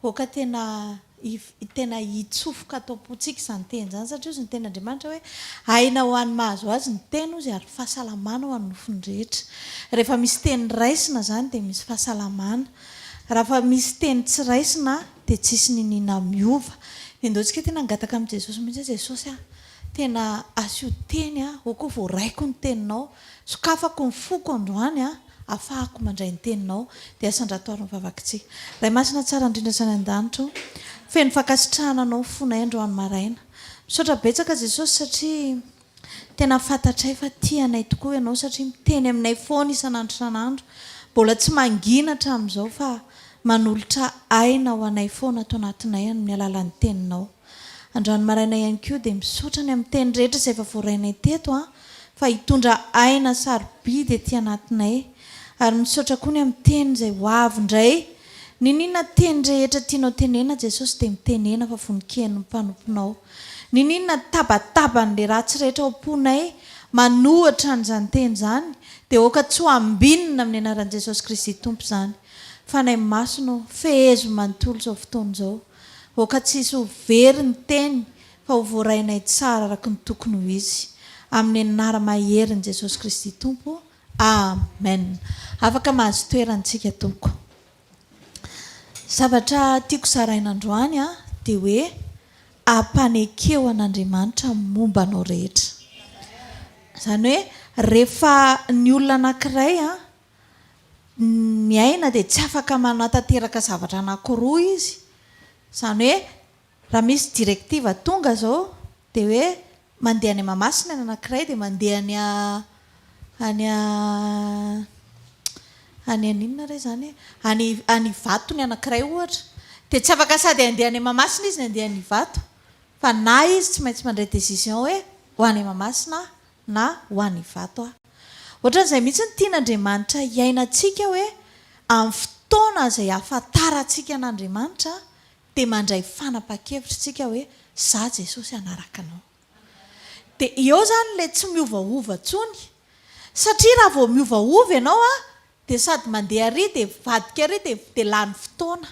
Aoka tena tena hitsofoka ato am-pontsika izany teny izany, satria hozy ny Tenin'Andriamanitra hoe, Aina ho an'ny mahazo azy ny teny, hozy, ary fahasalamana ho an'ny nofony rehetra. Rehefa misy teny raisina izany dia misy fahasalamana. Raha fa misy teny tsy raisina dia tsisy niniana miova. Endaho tsika tena hangataka amin'i Jesosy mihitsy hoe, Jesosy a, tena asio teny aho, ao koa voaraiko ny teninao. Sokafako ny foko androany a. Afahako mandray ny Teninao. Dia sandrato ary ny vavak'i Tsy. Ray Masina tsara indrindra sy any an-danitra o. Feno fankasitrahana Anao fonay andro any maraina. Misaotra betsaka Jesosy satria Tena fantatray fa tia anay tokoa Ianao satria miteny aminay foana isan'andro isan'andro. Mbola tsy mangina hatramin'izao fa manolotra aina ho anay foana ato anatinay amin'ny alalan'ny Teninao. Androany maraina ihany koa dia misaotra ny amin'ny teny rehetra izay efa voarainay teto an, fa hitondra aina sarobidy ety anatinay. Ary misaotra koa ny amin'ny teny izay ho avy indray. Niniana teny rehetra tianao tenenina Jesosy dia mitenena fa vonon-keny ny mpanomponao. Niniana tabataban'ilay ratsy rehetra ao am-ponay manohatra an'izany teny izany dia aoka tsy ho ambinina amin'ny anaran'i Jesosy Kristy Tompo izany. Fanahy Masina ô, fehezo manontolo izao fotoana izao. Aoka tsy hisy ho very ny teny fa ho voarainay tsara araka ny tokony ho izy. Amin'ny anara maherin'i Jesosy Kristy Tompo. Amen. Afaka mahazo toerana tsika tompoko. Zavatra tiako zaraina androany dia hoe ampanekeo an'Andriamanitra momba anao rehetra. Izany hoe rehefa ny olona anankiray ny aina dia tsy afaka manatanteraka zavatra anankiroa izy, izany hoe raha misy directive tonga izao dia hoe mandeha any Mahamasina ny anankiray dia mandeha any any any any inona re izany any any Ivato ny anankiray ohatra dia tsy afaka sady handeha any Mahamasina izy no handeha any Ivato fa na izy tsy maintsy mandray décision hoe ho any Mahamasina aho na ho an' Ivato aho. Hoatran' izay mihitsy no tian' Andriamanitra hiainantsika hoe amin' ny fotoana izay ahafantarantsika an' Andriamanitra dia mandray fanapahan-kevitra isika hoe za Jesosy hanaraka anao. Dia eo izany ilay tsy miovaova intsony. Satria raha vao miovaova ianao an dia sady mandeha ary dia mivadika ary dia dia lany fotoana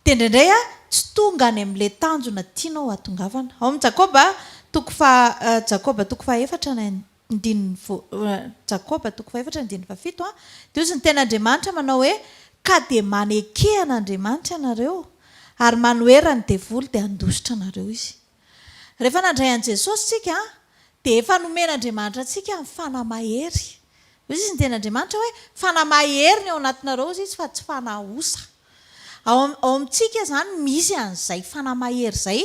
dia indraindray a tsy tonga any amin'ilay tanjona tianao hatongavana ao amin'ny Jakoba toko faha Jakoba toko fahaefatra ny andininy voa Jakoba toko fahaefatra ny andininy fahafito a dia hozy ny tenin'Andriamanitra manao hoe ka dia maneke an'Andriamanitra ianareo ary manohera ny devoly dia handositra anareo izy Rehefa nandray an'i Jesosy isika dia efa nomen'Andriamanitra antsika ny fanahy mahery. Hoy izy ny tenin'Andriamanitra hoe, Fanahy mahery ny ao anatinareo, hoy izy, fa tsy fanahy osa. Ao am- ao amintsika izany misy an'izay fanahy mahery izay.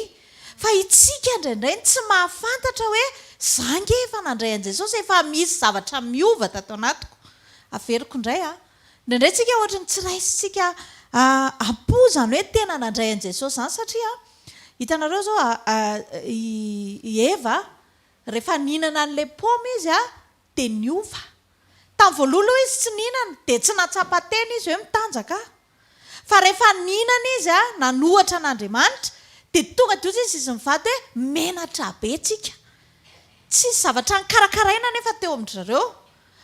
Fa itsika indraindray no tsy mahafantatra hoe, Za ange efa nandray an'i Jesosy, efa misy zavatra miova tato anatiko. Averiko indray an. Indraindray tsika ohatry ny tsy raisintsika am-po izany hoe tena nandray an'i Jesosy izany satria hitanareo izao i Eva rehefa nihinana an'ilay paoma izy dia niova. Tamin'ny voalohany aloha izy tsy nihinana dia tsy nahatsapa tena izy hoe mitanjaka aho. Fa rehefa nihinana izy nanohatra an'Andriamanitra dia tonga dia hoy izy izy mivady hoe menatra be tsika. Tsy nisy zavatra nikarakaraina anefa teo amin-dry zareo.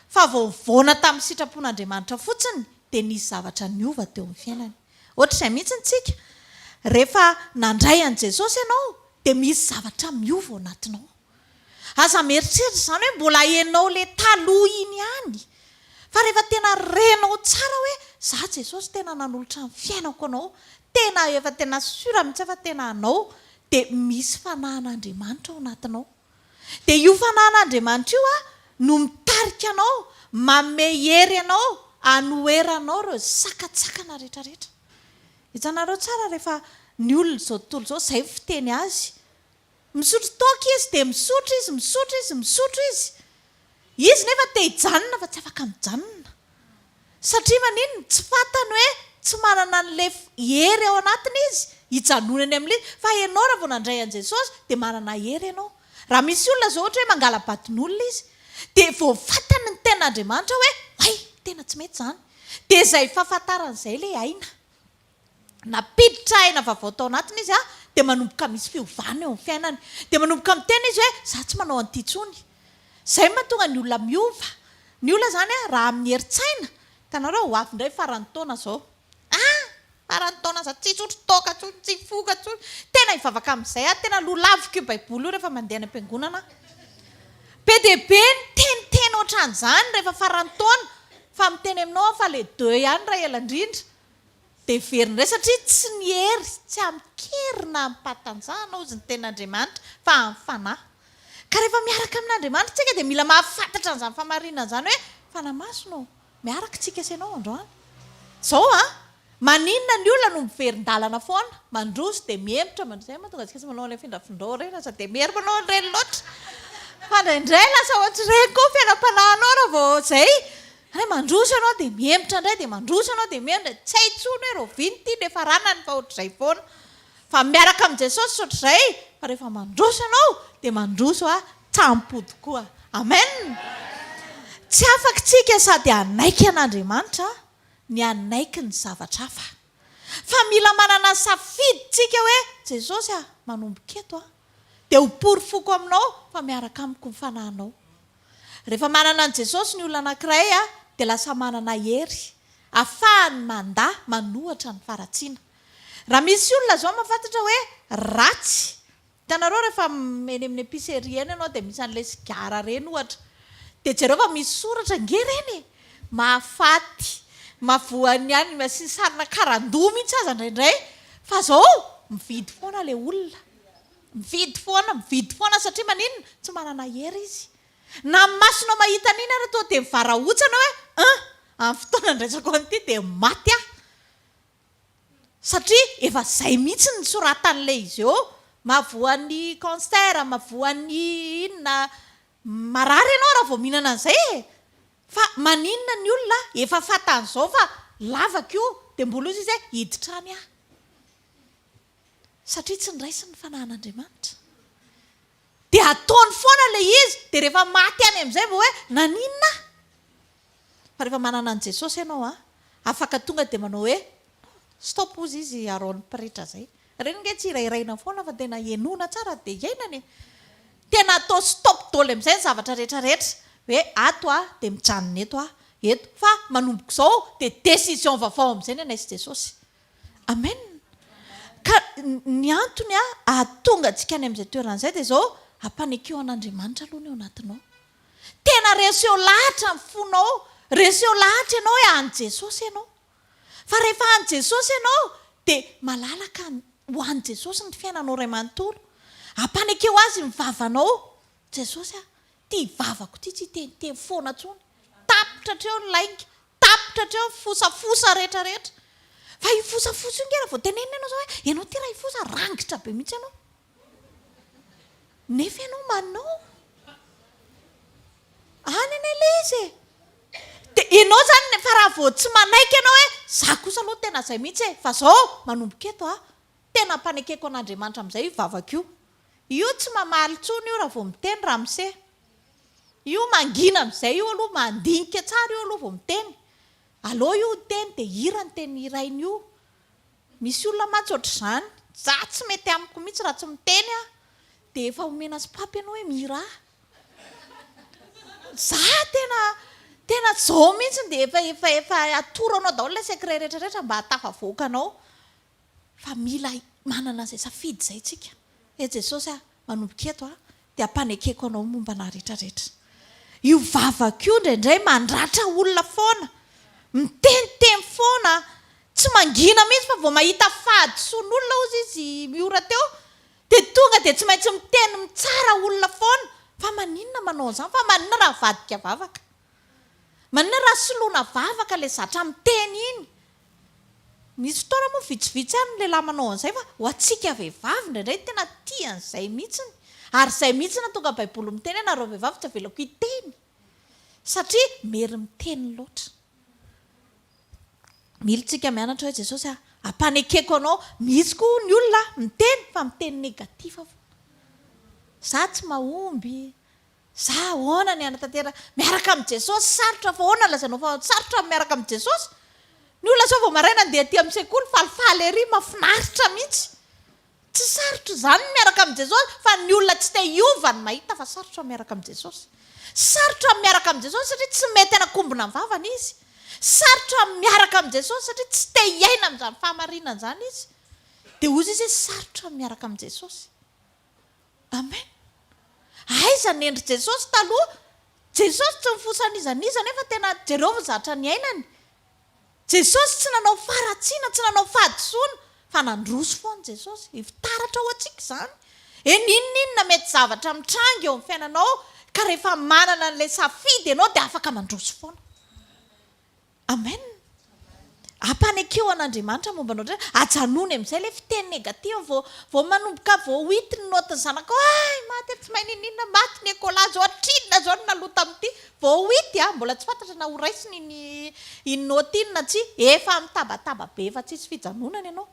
Fa vao nivaona tamin'ny sitrapon'Andriamanitra fotsiny dia nisy zavatra niova teo amin'ny fiainany. Ohatr'izay mihitsy ny tsika, rehefa nandray an'i Jesosy ianao dia misy zavatra miova ao anatinao. Aza mieritreritra izany hoe mbola enao ilay taloha iny ihany, fa rehefa tena renao tsara hoe za Jesosy tena nanolotra ny fiainako anao, tena efa tena sur mihitsy fa tena anao, dia misy fanahin'Andriamanitra ao anatinao. Dia io Fanahin'Andriamanitra io no mitarika anao, manome hery anao hanoheranao ireo sakantsakana rehetrarehetra. Hitanareo tsara rehefa ny olona izao tontolo izao, izay ny fiteny azy, misotro toaka izy, dia misotro izy, misotro izy, misotro izy. Izy nefa te hijanona fa tsy afaka mijanona. Satria maninona? Tsy fantany hoe tsy manana an'ilay hery ao anatiny izy hijanonany amin'ilay izy. Fa ianao raha vao nandray an'i Jesosy dia manana hery ianao. Raha misy olona izao ohatra hoe mangala-baton'olona izy dia vao fantany ny tenin'Andriamanitra hoe hay, tena tsy mety izany. Dia izay fahafantarany izay ilay aina. nampiditra aina vaovao tao anatiny izy dia manomboka misy fiovana eo amin'ny fiainany. Dia manomboka miteny izy hoe, izaho tsy manao an'ity intsony. Izay no mahatonga ny olona miova. Ny olona izany raha amin'ny herin-tsaina, hitanareo ho avy indray faran'ny taona izao. Ah! Faran'ny taona aza tsy hisotro toaka intsony, tsy hifoka intsony. Tena hivavaka amin'izay aho, tena lolaviko io Baiboly io rehefa mandeha any am-piangonana aho. Be dia be ny teniteny hoatran'izany rehefa faran'ny taona, fa miteny aminao aho fa ilay deux ihany raha ela indrindra. Dia very indray satria tsy ny hery, tsy amin-kery na amim-pahatanjahana hozy ny tenin'Andriamanitra fa amin'ny fanahy. Ka rehefa miaraka amin'Andriamanitra isika dia mila mahafantatra an'izany fahamarinana izany hoe, Fanahy Masina ô, miaraka isika sy Ianao androany. Izao an! Maninona ny olona no miverin-dalana foana, mandroso dia mihemotra, mandroso, izay mahatonga antsika tsy manao ilay findrafindrao ireny aza dia miery manao an'ireny loatra. Fa indraindray lasa ohatr'ireny koa ny fiainam-panahinao raha vao izay, Ary mandroso ianao dia mihemotra indray dia mandroso ianao dia mihemotra indray, tsy hay intsony hoe rahoviana ity no efa ranany fa ohatr'izay foana. Fa miaraka amin'i Jesosy ohatr'izay fa rehefa mandroso ianao dia mandroso an-tsampy tokoa. Amen! Tsy afaka isika sady hanaiky an'Andriamanitra ny hanaiky ny zavatra hafa. Fa mila manana safidy isika hoe Jesosy a, manomboka eto aho dia ho porofoko aminao fa miaraka amiko ny fanahinao. Rehefa manana an'i Jesosy ny olona anankiray dia lasa manana hery afahany mandà manohatra ny faratsiana. Raha misy olona izao mahafantatra hoe ratsy, hitanareo rehefa eny amin'ny epicerie eny ianao dia misy an'ilay sigara ireny ohatra, dia jereo fa misy soratra ange ireny e! mahafaty, mahavoan'ny anima, asiany sarina karandoha mihitsy aza indraindray, fa izao mividy foana ilay olona. Mividy foana, mividy foana satria maninona? Tsy manana hery izy. Na ny masonao mahita an'iny ary tonga dia mivarahotsana hoe aa! Amin'ny fotoana andraisako an'ity dia maty aho. Satria efa izay mihitsy ny soratan'ilay izy eo. Mahavoa ny cancer, mahavoa ny inona. Marary ianao raha vao mihinana an'izay e! Fa maninona ny olona efa fantany izao fa lavako io dia mbola hoy izy hoe hiditra any aho. satria tsy niraisiny ny fanahin'Andriamanitra. Dia ataony foana ilay izy, dia rehefa maty any amin'izay vao hoe naninona aho? Fa rehefa manana an'i Jesosy ianao an, afaka tonga dia manao hoe stop hozy izy Aaron pretra izay. Ireny ange tsy hirairaina foana fa tena henoina tsara dia hiainana e. Tena atao stop doly amin'izay ny zavatra rehetra rehetra, hoe ato aho dia mijanona eto aho, eto. Fa manomboka izao dia decision vaovao amin'izay ny anay sy Jesosy. Amen. Ka ny antony ahatonga antsika any amin'izay toerana izay dia izao, ampanekeho an'Andriamanitra aloha ny ao anatinao. Tena reseho lahatra ny fonao, reseho lahatra ianao hoe an'i Jesosy ianao. Fa rehefa an'i Jesosy ianao dia malalaka ho an'i Jesosy ny fiainanao iray manontolo. Ampanekeho Azy ny vavanao, Jesosy a, ity vavako ity tsy hiteniteny foana intsony. Tapitra hatreo ny lainga, Tapitra hatreo ny fosafosa rehetrarehetra. Fa io fosafosa io nge raha vao tenenina ianao izao hoe ianao ity raha hifosa, rangitra be mihitsy ianao. Nefa ianao manao. Any anie ilay izy e! Dia ianao izany fa raha vao tsy manaiky ianao hoe izaho kosa aloha tena izay mihitsy e, fa izao manomboka eto aho. Tena ampanekeko an'Andriamanitra amin'izay io vavaka io. Io tsy mamaly intsony io raha vao miteny ramose. Io mangina amin'izay io aloha, mandinika tsara io aloha vao miteny. Aleo io niteny dia hira ny teny hirainy io. Misy olona mantsy ohatr'izany. Za tsy mety amiko mihitsy raha tsy miteny aho dia efa omena sopapa ianao hoe mihirà. Za tena tena zao mihitsy dia efa efa efa atoro anao daholo ilay secret rehetra rehetra mba hahatafavoaka anao. fa mila manana izay safidy izay tsika. He Jesosy a, manomboka eto aho, dia ampanekeko Anao momba anah rehetra rehetra. Io vavako io indraindray mandratra olona foana, miteniteny foana, tsy mangina mihintsy fa vao mahita fahadisoan'olona hozy izy miora teo dia tonga dia tsy maintsy miteny mitsara olona foana, fa maninona manao an'izany, fa maninona raha avadika vavaka. Maninona raha soloina vavaka ilay zatra miteny iny? Misy fotoana moa vitsivitsy ihany ny lehilahy manao an'izay fa ho antsika vehivavy indraindray ny tena tia an'izay mihitsiny. Ary izay mihitsy no hahatonga ny Baiboly miteny hoe nareo vehivavy tsy avelako hiteny satria mery miteny loatra. Mila isika mianatra hoe Jesosy a, ampanekeko anao. Misy koa ny olona miteny fa miteny negatif foana. Izaho tsy mahomby. Za ahoana ny hanatanteraka miaraka amin'i Jesosy? Sarotra fa ahoana lazainao fa sarotra ny miaraka amin'i Jesosy? Ny olona zao vao maraina andeha aty amin'ny sekoly falifaly ery, mafinaritra mihitsy. Tsy sarotra izany ny miaraka amin'i Jesosy fa ny olona tsy te hiova no mahita fa sarotra ny miaraka amin'i Jesosy. Sarotra ny miaraka amin'i Jesosy satria tsy mety hanakombona ny vavany izy. Sarotra ny miaraka amin'i Jesosy satria tsy te hiaina amin'izany fahamarinana izany izy. Dia hozy izy hoe sarotra ny miaraka amin'i Jesosy. Amen! Aiza ny endry Jesosy taloha? Jesosy tsy nifosa an'iza n'iza nefa tena jereo ny zatra niainany. Jesosy tsy nanao faharatsiana, tsy nanao fahadisoana fa nandroso foana Jesosy. Fitaratra ho antsika izany. Hoe n'inon'inona mety zavatra mitranga eo amin'ny fiainanao ka rehefa manana an'ilay safidy ianao dia afaka mandroso foana. Amen! Ampanekeo an'Andriamanitra momba anao dray, ajanony amin'izay ilay fiteny negatif vao vao manomboka vao hit ny note ny zanako ay maty ary tsy mahay niniana maty ny ecola zao hatrinona izao ny naloa tamin'ity vao hit a mbola tsy fantatra na ho raisiny iny iny note iny na tsia efa mitabataba be efa tsisy fijanonana ianao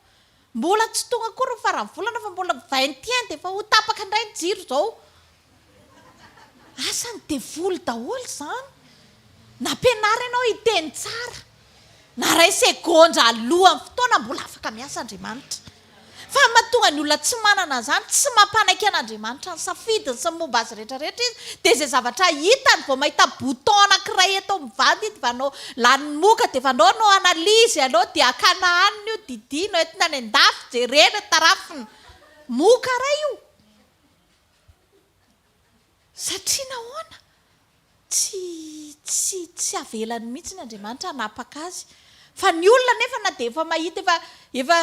Mbola tsy tonga akory ny faran'ny volana fa mbola vingt et un dia efa ho tapaka indray ny jiro izao. Asan'ny devoly daholo izany. Nampianaro ianao hiteny tsara. Na iray segondra alohan'ny fotoana mbola afaka miasa Andriamanitra. Fa ny mahatonga ny olona tsy manana an'izany, tsy mampanaiky an'Andriamanitra ny safidiny sy ny momba azy rehetra rehetra izy dia izay zavatra hitany vao mahita bouton anankiray eto amin'ny vadiny dia efa hanao Lanin'ny moka dia fanao no analyse aleo dia akana hanina io didino entina any andafy jerena tarafina moka ray io satria nahoana tsy tsy tsy avelany mihitsiny Andriamanitra hanapaka azy fa ny olona nefa na dia efa mahita efa efa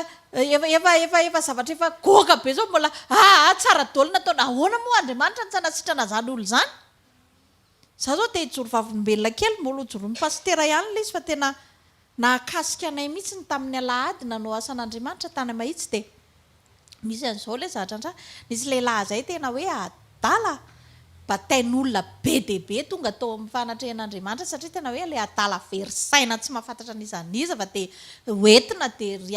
efa efa efa efa zavatra efa goaka be zao mbola aa tsara dolo nataony ahoana moa Andriamanitra no tsy hanasitrana zany olona zany Za zao te hijoro vavolombelona kely mbola ho joron'ny pasitera ihany ilay izy fa tena nahakasika anay mihitsy ny tamin'ny alahady nanao asan'Andriamanitra tany Mahitsy dia misy an'izao ilay zahatrantra nisy lehilahy izay tena hoe adala batain'olona be dia be tonga tao amin'ny fanatrehan'Andriamanitra satria tena hoe ilay adala very saina tsy mahafantatra n'iza n'iza fa dia hoentina dia ry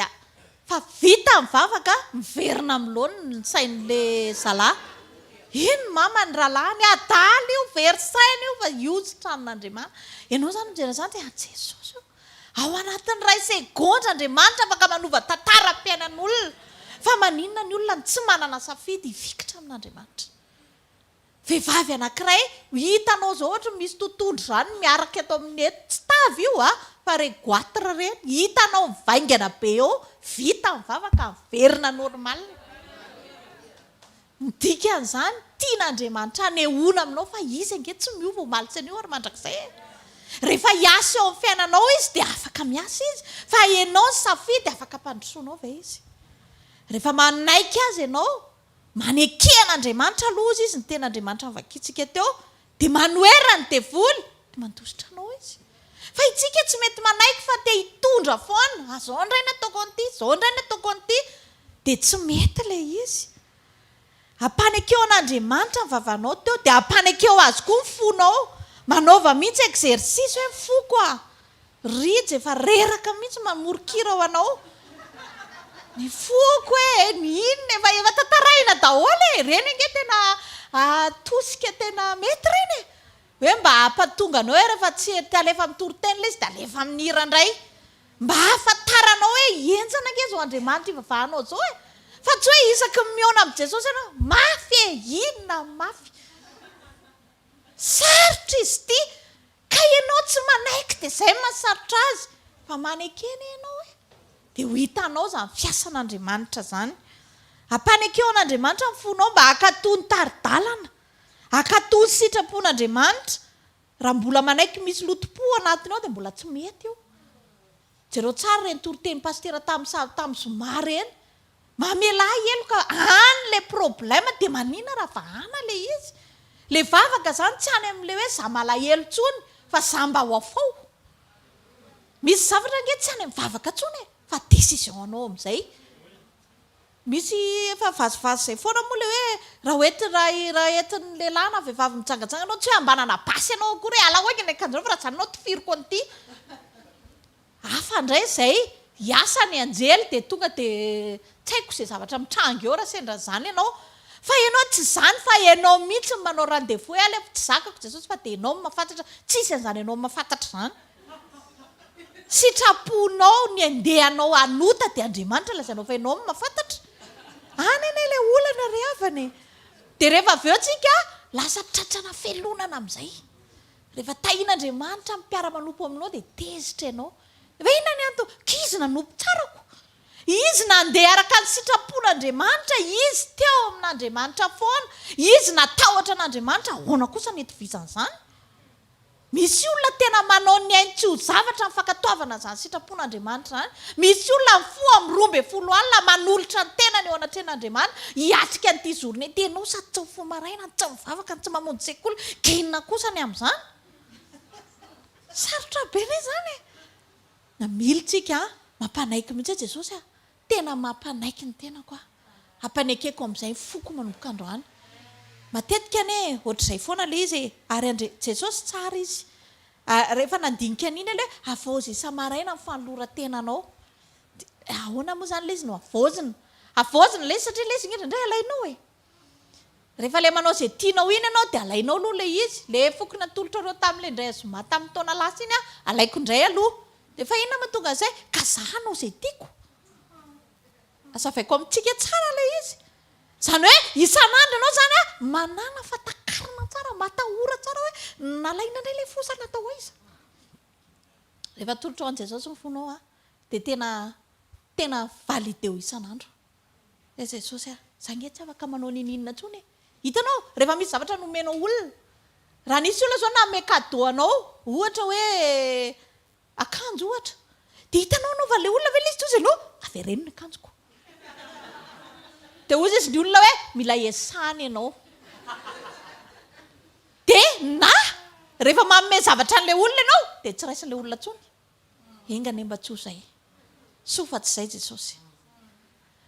Fa vita ny vavaka, miverina amin'ny laoniny ny sain'ilay zalahy. Iny ny maman'ny rahalahiny, adala io, very saina io fa io tsy tranon'Andriamanitra. Ianao izany mijery an'izany dia, an'i Jesosy io. Ao anatin'ny iray segondra Andriamanitra afaka manova tantaram-piainan'olona. Fa maninona ny olona no tsy manana safidy hifikitra amin'Andriamanitra? Vehivavy anankiray, hitanao izao ohatra ny misy totohondry izany miaraka eto amin'ny eto, tsy tavy io a, fa ireny goitre ireny, hitanao mivaingana be eo, vita ny vava ka miverina normal. Ny dikan'izany, tian'Andriamanitra hanehoana aminao fa Izy ange tsy miova omaly sy anio ary mandrakizay e. Rehefa hiasa eo amin'ny fiainanao Izy dia afaka miasa Izy, fa ianao no safidy afaka hampandrosoanao ve Izy. Rehefa manaiky Azy ianao Maneke an'Andriamanitra aloha Izy, Izy no tena Andriamanitra novakintsika teo, dia manoherana ny devoly, dia mandositra anao Izy. Fa itsika tsy mety manaiky fa te hitondra foana, ah zao indray ny ataoko an'ity, zao indray ny ataoko an'ity, dia tsy mety ilay izy. Ampanekeo an'Andriamanitra ny vavanao teo, dia ampanekeo Azy koa ny fonao, manaova mihitsy exercice hoe ny foko ah, Rija efa reraka mihitsy mamoron-kira ho anao ny foko e! ny inona e! fa efa tantarahina daholo e! ireny ange tena tosika tena mety ireny e! hoe mba hampatonga anao hoe rehefa tsy te halefa amin'ny toriteny ilay izy dia alefa amin'ny hira indray mba hahafantaranao hoe henjana ange izao Andriamanitra ivavahanao izao e! fa tsy hoe isaky ny mihaona amin'i Jesosy ianao mafy e! inona ny mafy? sarotra izy ity! Ka ianao tsy manaiky dia izay no mahasarotra azy fa maneke anie ianao e! dia ho hitanao izany fiasan'Andriamanitra izany. Ampanekeo an'Andriamanitra ny fonao mba hankatò ny tari-dalana, hankatò ny sitrapon'Andriamanitra. Raha mbola manaiky misy loto-po anatiny ao dia mbola tsy mety io. Jereo tsara ireny toriteny pasitera tamin'ny sary tamin'ny zoma ireny. Mamelà heloka any ilay problème dia manina raha vahana ilay izy. Ilay vavaka izany tsy any amin'ilay hoe za malahelo intsony fa za mba ho afoy. Misy zavatra ange tsy any amin'ny vavaka intsony e, fa décision anao amin'izay. Misy efa vazivazy izay foana moa ilay hoe raha ho ety raha raha entin'ny lehilahy na vehivavy mijangajanga ianao tsy hoe hambanana basy ianao akory hoe alao haingana ny akanjonao fa raha izany ianao tifiriko an'ity. Hafa indray izay hiasa ny anjely dia tonga dia tsy haiko izay zavatra mitranga eo raha sendra izany ianao. Fa ianao tsy izany fa ianao mihitsy no manao rendez-vous hoe aleo tsy zakako Jesosy fa dia ianao no mahafantatra. Tsy hisy an'izany ianao mahafantatra izany. Sitraponao ny andeha anao hanota dia Andriamanitra lazainao fa ianao no mahafantatra. Any anie ilay olana ry havana e. Dia rehefa avy eo tsika lasa tratrana felonana amin'izay. Rehefa tahin'Andriamanitra ny mpiara-manompo aminao dia tezitra ianao. Efa inona ny antony? K'izy nanompo tsarako. Izy nandeha araka ny sitrapon'Andriamanitra, izy teo amin'Andriamanitra foana, izy natahotra an'Andriamanitra, ahoana kosa ny hitovizan'izany? Misy olona tena manao ny ainy tsy ho zavatra ny fankatoavana an'izany sitrapon'Andriamanitra izany. Misy olona mifoha amin'ny roa ambin'ny folo alina manolotra ny tenany eo anatrehan'Andriamanitra hiatrika an'ity zorona ity. Ianao sady tsy mifoha maraina no tsy mivavaka no tsy mamonjy sekoly, gena kosa ny amin'izany. Sarotra be ve izany e? Namilitsika an! Mampanaiky mihitsy Jesosy an! Tena mampanaiky ny tenako aho. Ampanekeko amin'izay ny foko manomboka androany. Matetika anie ohatr'izay foana ilay izy e! Ary Andri-, Jesosy tsara izy. Ary rehefa nandinika an'iny aloha hoe havaozy isa-maraina ny fanoloran-tenanao. Dia ahoana moa izany ilay izy no havaozina? Havaozina ilay izy satria ilay izy indrindray alainao e! Rehefa ilay manao izay tianao iny ianao dia alainao aloha ilay izy, ilay foko natolotrareo tamin'ilay indray zoma tamin'ny taona lasa iny an, alaiko indray aloha. Dia fa inona mahatonga an'izay? Ka za hanao izay tiako. Azavaiko amintsika tsara ilay izy. Izany hoe isan'andro ianao izany an, manàna fa takarina tsara, matahora tsara hoe nalaina indray ilay fo sa natao aiza. Rehefa atolotrao an'i Jesosy ny fonao an, dia tena, tena valideo isan'andro. Ilay Jesosy ary, za nge tsy afaka manao ninininona tsony e! Hitanao, rehefa misy zavatra nomenao olona, raha nisy olona zao nanome cadeau anao, ohatra hoe akanjo ohatra, dia hitanao anaovan'ilay olona ve ilay izy toa izy aloha, avereno ny akanjoko, dia hoy izy ny olona hoe mila hiasana ianao, dia na rehefa manome zavatra an'ilay olona ianao dia tsy raisin'ilay olona tsony. Enga anie mba tsy ho izay. Soa fa tsy izay Jesosy.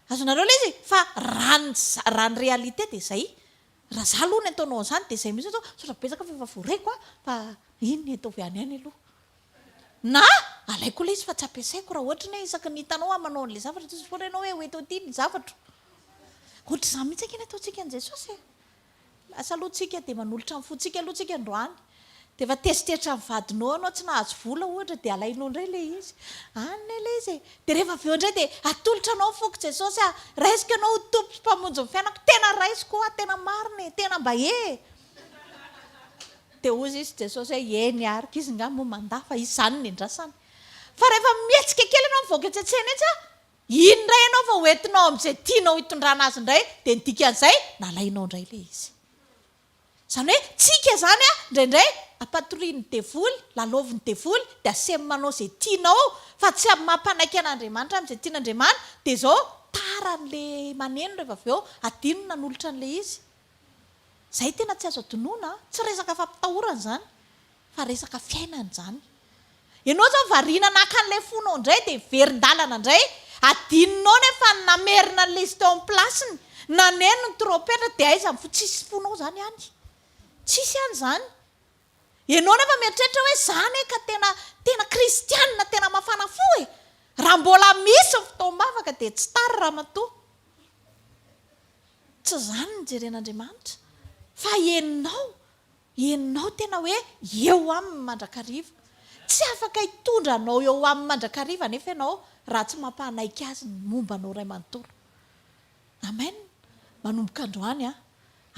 Azonareo ilay izy? Fa raha ny raha ny réalité dia izay. Raha izaho aloha ny ataonao an'izany dia izay mihitsy aho sao sao betsaka fa efa voaraiko aho fa iny ny ataovy any any aloha. Na alaiko ilay izy fa tsy ampiasaiko raha ohatra ny hoe isaky ny hitanao aho manao an'ilay zavatra Jesosy foana ianao hoe ho eto aty ny zavatro. Ohatr'izany mihitsy ange ny ataontsika an'i Jesosy e. Lasa aloha tsika dia manolotra ny fontsika aloha tsika androany dia efa teritreritry ny vadinao ianao tsy nahazo vola ohatra dia alainao indray ilay izy any ilay izy e dia rehefa avy eo indray dia atolotra anao ny foko Jesosy a raisiko ianao ho Tompo sy Mpamonjy ny fiainako tena raisiko hoa tena marina e tena mba e dia hozy izy Jesosy hoe eny ary k'izy nga moa mandà fa izany ny andrasana fa rehefa mihetsika kely ianao mivoaka etsy an-tsena etsy a Iny indray ianao vao ho entinao amin'izay tianao hitondrana azy indray dia ny dikan'izay nalainao indray ilay izy. Izany hoe tsika izany an, indraindray ampatorian'ny devoly, lalaovin'ny devoly dia asemy manao izay tianao fa tsy amin'ny maha mpanaiky an'Andriamanitra amin'izay tian'Andriamanitra dia izao tara an'ilay maneno rehefa avy eo adino ny nanolotra an'ilay izy. Izay tena tsy azo adinoina an, tsy resaka fampitahorana izany. Fa resaka fiainana izany. Ianao izao variana naka an'ilay fonao indray dia verin-dalana indray, adinonao nefa ny namerina an'ilay izy teo amin'ny place-ny, naneno ny trompetra dia aiza ny fo, tsisy fonao izany any. Tsisy any izany. Ianao nefa mieritreritra hoe izaho anie ka tena, tena kristianina tena mafana fo e! Raha mbola misy ny fotoam-bavaka dia tsy tara ramatoa. Tsy izany no jeren'Andriamanitra. Fa ianao. Ianao tena hoe eo aminy mandrakariva. Tsy afaka hitondra anao eo aminy mandrakariva anefa ianao raha tsy mampanaiky Azy ny momba anao Ray manontolo. Amen! Manomboka androany an!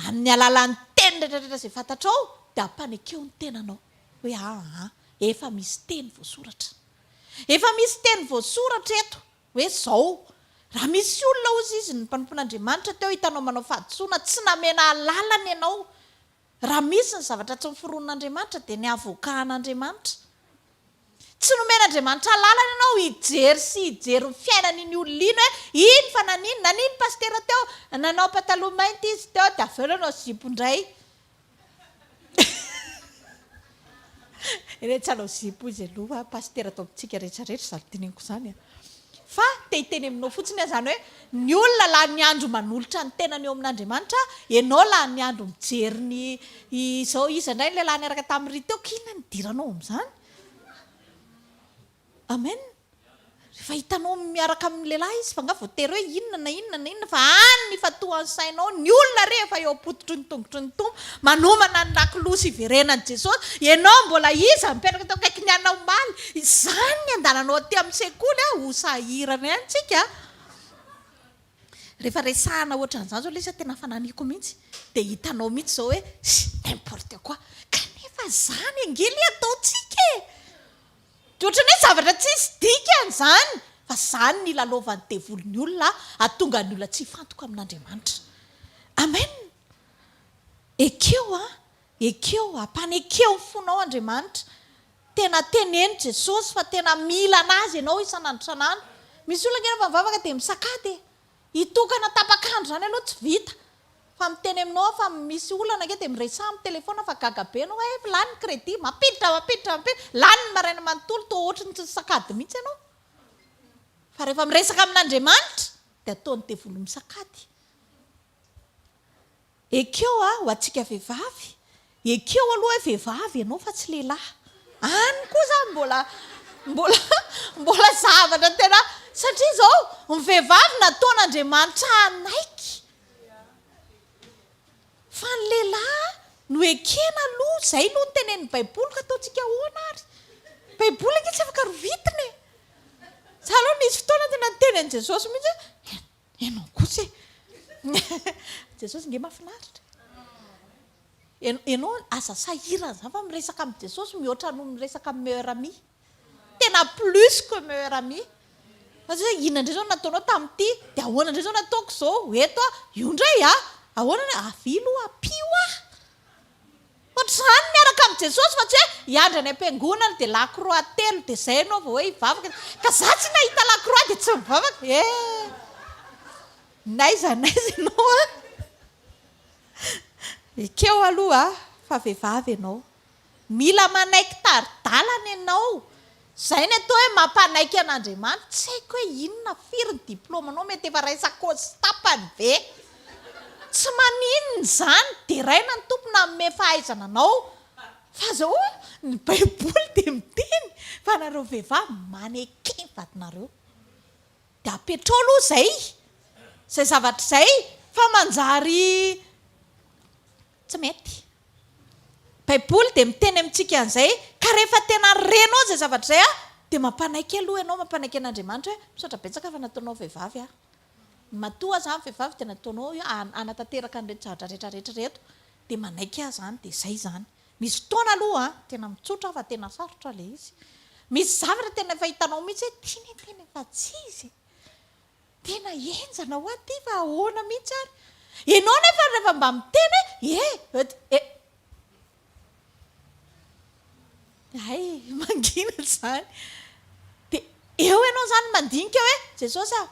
Amin'ny alalan'ny teny retraretra izay fantatrao dia ampanekeho ny tenanao hoe aa efa misy teny voasoratra. Efa misy teny voasoratra eto hoe zao. Raha misy olona ozy izy ny mpanompon'Andriamanitra teo hitanao manao fahadisoana tsy namena alalana ianao Raha misy ny zavatra tsy noforonin'Andriamanitra dia ny avoka an'Andriamanitra. Tsy nomen'Andriamanitra alalana ianao hijery sy hijery ny fiainan'iny olona iny hoe iny fa nanino, nanino ny pasitera teo, nanao pataloha mainty izy teo dia avy eo nanao zipo indray. Ireny tsalaozipo hoy izay loha pasitera atao amintsika rehetra rehetra izany dinihiko izany a! Fa te hiteny aminao fotsiny aho izany hoe ny olona lany andro manolotra ny tenany eo amin'Andriamanitra, ianao lany andro mijery ny izao iza indray ny lehilahy niaraka tamin'i Ry teo, k'inona no nidiranao amin'izany? Amen! Rehefa hitanao miaraka amin'ny lehilahy izy fa nga voatery hoe inona na inona na inona fa any ny fatohan'ny sainao, ny olona rehefa eo am-pototry ny tongotry ny Tompo, manomana ny lakolosy hiverenan'i Jesosy, ianao mbola iza mipetraka teo akaikin'ny anao omaly? Izany ny andalanao aty amin'ny sekoly a! Ho sahirana ihany tsika a! Rehefa resahana ohatran'izany zao ilay izy a, tena fananiko mihitsy, dia hitanao mihitsy zao hoe, n'importe quoi! Kanefa zany ange le ataontsika e! Dia ohatran'ny hoe zavatra tsisy dikany izany, fa izany no ilalovan'ny devoly ny olona hahatonga ny olona tsy hifantoka amin'Andriamanitra. Amen! Ekeo an! Ekeo, ampana ekeo ny fonao Andriamanitra. Tena teneno Jesosy fa tena mila anazy ianao isan'andro isan'andro. Misy olona ange rehefa mivavaka dia misakady e! Hitokana tapak'andro zany aloha tsy vita fa miteny aminao aho fa misy olana ange dia miresaha amin'ny telefaona fa gaga be anao hoe lany ny crédit, mampiditra mampiditra mampiditra, lany ny maraina manontolo toa ohatry ny tsy nisakady mihitsy ianao fa rehefa miresaka amin'Andriamanitra dia ataony devoly misakady. Ekeo hoa ho antsika vehivavy. Ekeo aloha hoe vehivavy ianao fa tsy lehilahy. Any koa izany mbola mbola mbola zavatra tena satria izao ny vehivavy nataon'Andriamanitra hanaiky fa ny lehilahy no ekena aloha. Izay aloha no tenenin'ny Baiboly ka ataontsika ahoana ary. Ny Baiboly ange tsy afaka rovitina e. Za aloha nisy fotoana tena niteny an'i Jesosy mihitsy hoe. Ianao kosa e! Jesosy nge mafinaritra e! Ianao, ianao aza sahirana izany fa miresaka amin'i Jesosy mihoatra noho miresaka amin'ny meilleur ami. Tena plus que meilleur ami. Fa tsy hoe inona indray izao no nataonao tamin'ity, dia ahoana indray izao no ataoko izao, ho eto aho, io indray an! Ahoana indray, avia aloha, ampio aho! Ohatr'izany miaraka amin'i Jesosy fa tsy hoe hiandry any am-piangonana dia la croix telo dia izay ianao vao hoe hivavaka, ka za tsy nahita la croix dia tsy mivavaka eh! N'aiza n'aiza ianao an! Ekeo aloha fa vehivavy ianao. Mila manaiky tari-dalana ianao. Zay ny atao hoe mampanaiky an'Andriamanitra, tsy haiko hoe inona, firy ny diplaomanao, mety efa raisan-kôzy sy tapany ve? Tsy maninona izany, deraina ny Tompo nanome fahaizana anao, fa zao hoe ny baiboly dia miteny fa nareo vehivavy maneke ny vadinareo, dia apetrao aloha izay, izay zavatra izay, fa manjary Tsy mety. Baiboly dia miteny amintsika an'izay, ka rehefa tena renao izay zavatra izay an, dia mampanaiky aloha ianao, mampanaiky an'Andriamanitra hoe, misaotra betsaka fa nataonao vehivavy aho. Matoa aza aho vehivavy dia nataonao hanatanteraka an'ireto zavatra rehetra rehetra ireto, dia manaiky aho izany, dia izay izany. Misy fotoana aloha an, tena mitsotra aho fa tena sarotra ilay izy. Misy zavatra tena efa hitanao mihitsy hoe, tinitiny fa tsy izy e. Tena henjana hoa ity fa ahoana mihitsy ary? Ianao nefa rehefa mba miteny hoe eh eh dia eh. Hay mangina izany. Dia eo ianao izany mandinika hoe Jesosy ah,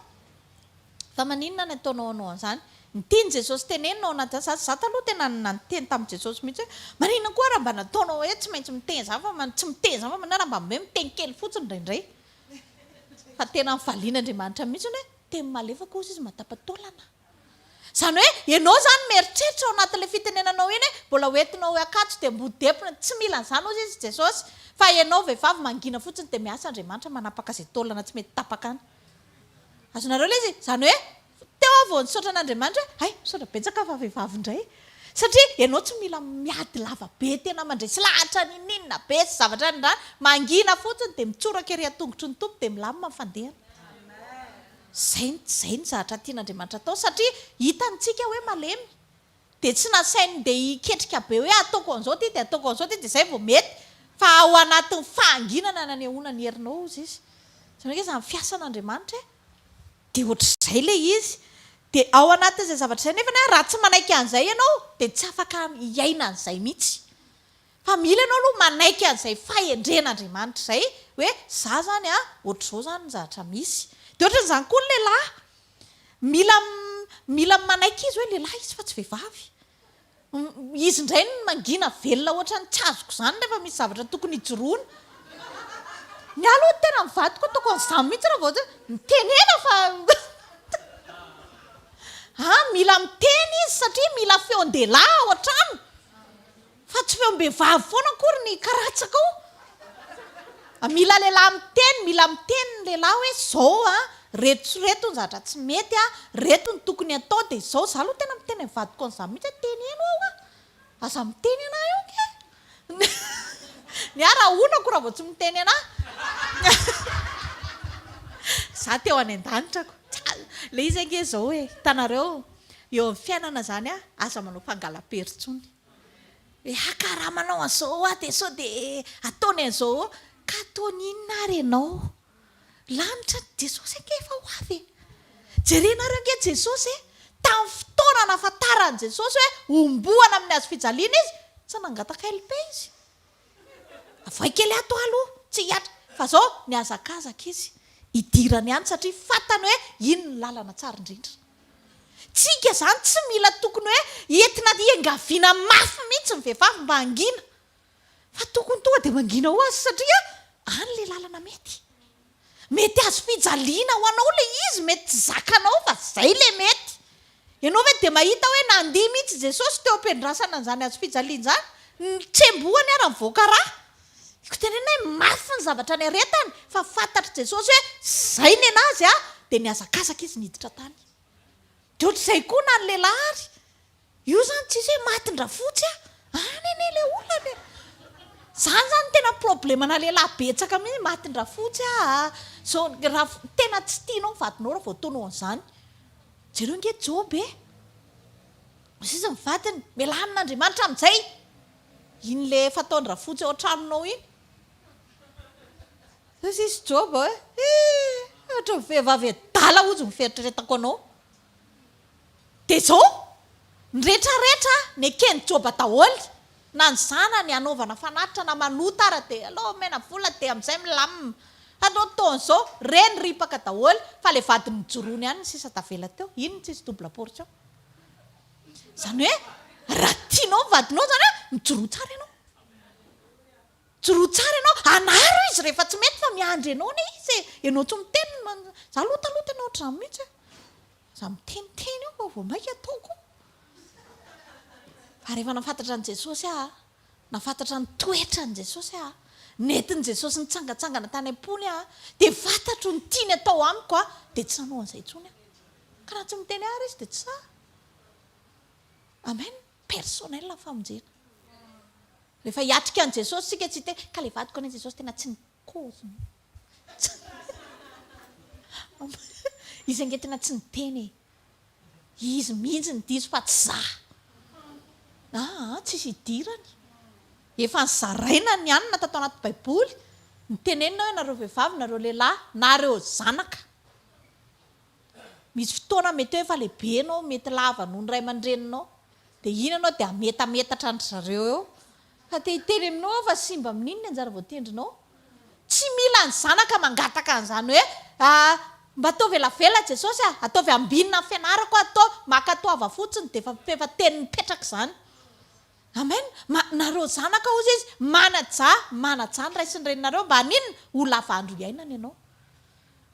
fa maninona ny ataonao anao an'izany? Ny tian'i Jesosy tenenina ao anatin'izany, za za taloha tena niteny tamin'i Jesosy mihitsy hoe maninona koa raha mba nataonao hoe tsy maintsy miteny izany fa tsy miteny izany fa maninona raha mba hoe miteny kely fotsiny indraindray? Fa tena ny valian'Andriamanitra mihitsy hoe teny malefaka ozy izy matapa-taolana. Izany hoe ianao izany mieritreritra ao anatin'ilay fitenenanao iny hoe mbola ho entinao hoe akanjo dia mody depona, tsy mila an'izany ozy izy Jesosy fa ianao vehivavy mangina fotsiny dia miasa Andriamanitra manapaka izay taolana tsy mety tapaka any. Azonareo ilay izy? Izany hoe. Teo aho vao nisaotra an'Andriamanitra hoe, hay, misaotra betsaka fa vehivavy indray e! Satria ianao tsy mila miady lava be tena mandresy lahatra ninoninona be sy zavatra nindràna, mangina fotsiny dia mitsoraka ery an-tongotry ny Tompo dia milamina ny fandehana. Izay, izay ny zavatra tian'Andriamanitra atao satria hitany tsika hoe malemy. Dia tsy nasainy ndeha hiketrika be hoe ataoko an'izao ity dia ataoko an'izao ity dia izay vao mety fa ao anatin'ny fahanginana nanehoana ny herinao hozy Izy. Izany hoe izany fiasan'Andriamanitra e! Dia ohatr'izay ilay izy. Dia ao anatin'izay zavatra izay nefany an, raha tsy manaiky an'izay ianao dia tsy afaka hiaina an'izay mihitsy. Fa mila ianao aloha manaiky an'izay fahendren'Andriamanitra izay hoe izaho izany an, ohatr'izao izany ny zavatra misy. Dia ohatran'izany koa ny lehilahy. Mila mila manaiky izy hoe lehilahy izy fa tsy vehivavy. Izy indray no mangina velona ohatran'ny tsy azoko izany rehefa misy zavatra tokony hijoroana. Ny ahy aloha tena ny vadiko ataoko an'izany mihitsy raha vao hoe mitenena fa a mila miteny izy satria mila feon-dehilahy ao an-trano fa tsy feom-behivavy foana akory ny karatsakao. Mila lehilahy miteny, mila miteny ny lehilahy hoe zao an, reto sy reto ny zavatra tsy mety an, reto ny tokony atao dia izao, za aloha tena miteny amin'ny vadiko an'izany mihitsy hoe teneno aho an, aza miteny anah eo nge an, ny ahy raha honako raha vao tsy miteny anah, za teo any an-danitra ko, ilay izy ange izao e, hitanareo eo amin'ny fiainana izany an, aza manao fangala-pery intsony. Eha ka raha manao an'izao hoa dia sao dia ataony an'izao hoa. Ka ataony inona ary ianao? Lanitra ny Jesosy ange efa ho avy e! Jerenareo ange Jesosy e! Tamin'ny fotoana nahafantaran'i Jesosy hoe homboana amin'ny hazofijaliana Izy, tsy nangataka LP Izy. Avohay kely ato aho aloha tsy hihatra fa zao mihazakazaka izy hidirany any satria fantany hoe iny ny lalana tsara indrindra. Tsika izany tsy mila tokony hoe entina iangaviana mafy mihitsy ny vehivavy mba hangina fa tokony tonga dia mangina ho azy satria any ilay lalana mety. Mety hazo fijaliana ho anao ilay izy, mety tsy zakanao fa izay ilay mety. Ianao ve dia mahita hoe nandihy mihitsy Jesosy teo am-piandrasana an'izany hazo fijaliana izany? Notsembohany ary nivoaka ra. Ko tenenina hoe mafy ny zavatra niaretany, fa fantatr'i Jesosy hoe izay ny an'azy dia nihazakazaka izy niditra tany. Dia ohatr'izay koa na ny lehilahy ary, Io zany tsisy hoe matin-drafotsy a! Any anie le olona le! Zany zany tena problemana lehilahy betsaka mihitsy, matin-drafotsy aa, zao ra tena tsy tianao ny vadinao ra vao ataonao an'zany. Jereo nge Joba e! Ozy izy ny vadiny, melanina Andriamanitra amin'izay! Iny le efa ataon-drafotsy ao an-tranonao iny. Ozy izy Joba hoe, eh! Ohatran'ny vehivavy adala ozy ny fieritreretako anao. Dia zao, ny rehetra rehetra neken'i Joba daholo, na ny zanany hanaovana fanatitra na manota ara dia aleo omena vola dia amizay milamina, fa ny fotoana zao reny ripaka daholo fa le vadiny mijoroany ihany no sisa tavela teo, iny no tsisy double portion. Zany hoe raha tianao ny vadinao zany an, mijoroa tsara ianao. Joroa tsara ianao, anaro izy rehefa tsy mety fa miandry anao anie izy e! Ianao tsy miteny man, za aloha taloha tena ohatr'izany mihitsy a! za miteniteny eo fa vao maika ataoko, fa rehefa nafantatra an'i Jesosy aho a, nafantatra ny toetran'i Jesosy aho, nentin'i Jesosy nitsangantsangana tany am-pony aho, dia fantatro ny tiany atao amiko a, dia tsy hanao an'izay intsony aho, ka raha tsy miteny ahy ary izy dia tsy sahy, amen. Personnel ny famonjena. Rehefa hiatrika an'i Jesosy isika tsy te, ka ilay vadiko anie Jesosy tena tsy nikozy mihitsy. Izy ange tena tsy niteny e. Izy mihitsy no diso fa tsy za. Aa, tsisy idirany. Efa nozaraina ny anona tato anaty baiboly, nitenenina hoe nareo vehivavy, nareo lehilahy, nareo zanaka. Misy fotoana mety hoe efa lehibe ianao, mety lava noho ny ray aman-dreninao, dia iny ianao dia hametametatra an-dry zareo eo, fa te hiteny aminao aho fa simba amin'iny ny anjara voatendrinao. Tsy mila ny zanaka mangataka an'izany hoe, ah, mba ataovy elavela Jesosy ah, ataovy ambinina ny fianarako ah, toa mankatoava fotsiny dia efa efa teny mipetraka izany. Amen. Ma, nareo zanaka hozy izy, manajà, manajà ny ray sy ny reninareo mba haninona? Ho lava andro hiainana ianao.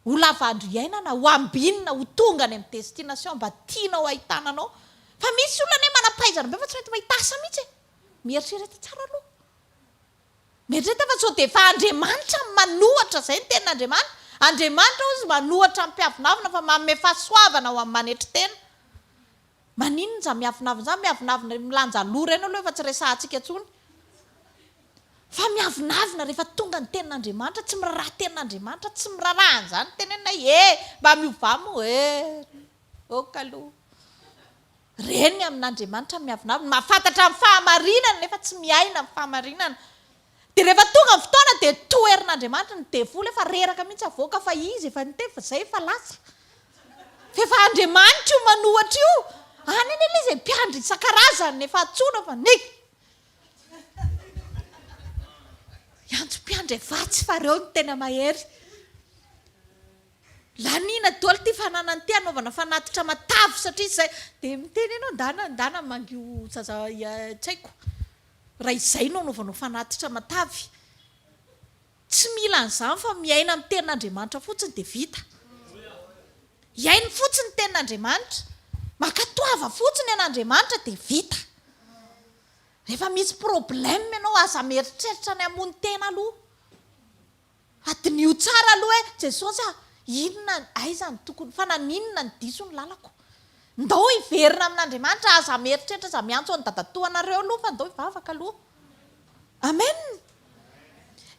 ho lava andro iainana, ho ambinina, ho tonga any amin'ny destination mba tianao hahitana anao. Fa misy olona anie manam-pahaizana be fa tsy mety mahita asa mihitsy e! Mieritrereta tsara aloha. Mieritrereta fa sao dia efa Andriamanitra no manohatra, izay no tenin'Andriamanitra. Andriamanitra hozy manohatra ny mpiavonavona fa manome fahasoavana ho amin'ny manetry tena. Maninona izany miavonavona izany, miavonavona ireny milanja loha ireny aloha efa tsy resahantsika intsony fa miavonavona rehefa tonga ny tenin'Andriamanitra, tsy miraharaha tenin'Andriamanitra, tsy miraharaha an'izany tenenina hoe ee mba miovà moa ee, ok aloha. Ireny ny amin'Andriamanitra ny miavonavona, mahafantatra ny fahamarinana nefa tsy miaina ny fahamarinana, Dia rehefa tonga ny fotoana dia toherin'Andriamanitra ny devoly efa reraka mihitsy avoaka fa izy efa niteny fa zay efa lasa fa efa Andriamanitra io manohatra io any anie le zay mpiandry isan-karazany efa antsoina fa ny hiantso mpiandry avatsy fa reo ny tena mahery laniana doly ty fananany ty anaovana fanatitra matavy satria zay dia miteny ianao ndana ndana mangio zaza tsaiko raha izay no anaovanao fanatitra matavy. Tsy mila an'izany fa miaina ny tenin'Andriamanitra fotsiny dia vita. Hihaino fotsiny ny tenin'Andriamanitra, mankatoava fotsiny an'Andriamanitra dia vita. Rehefa misy problème ianao aza mieritreritra ny hamono tena aloha. Hadinio tsara aloha hoe Jesosy a, inona, aiza no tokony, fa naninona no diso ny lalako? Ndao hiverina amin'Andriamanitra, aza mieritreritra, aza miantso an'i dadatoanareo aloha fa ndao hivavaka aloha. Amen!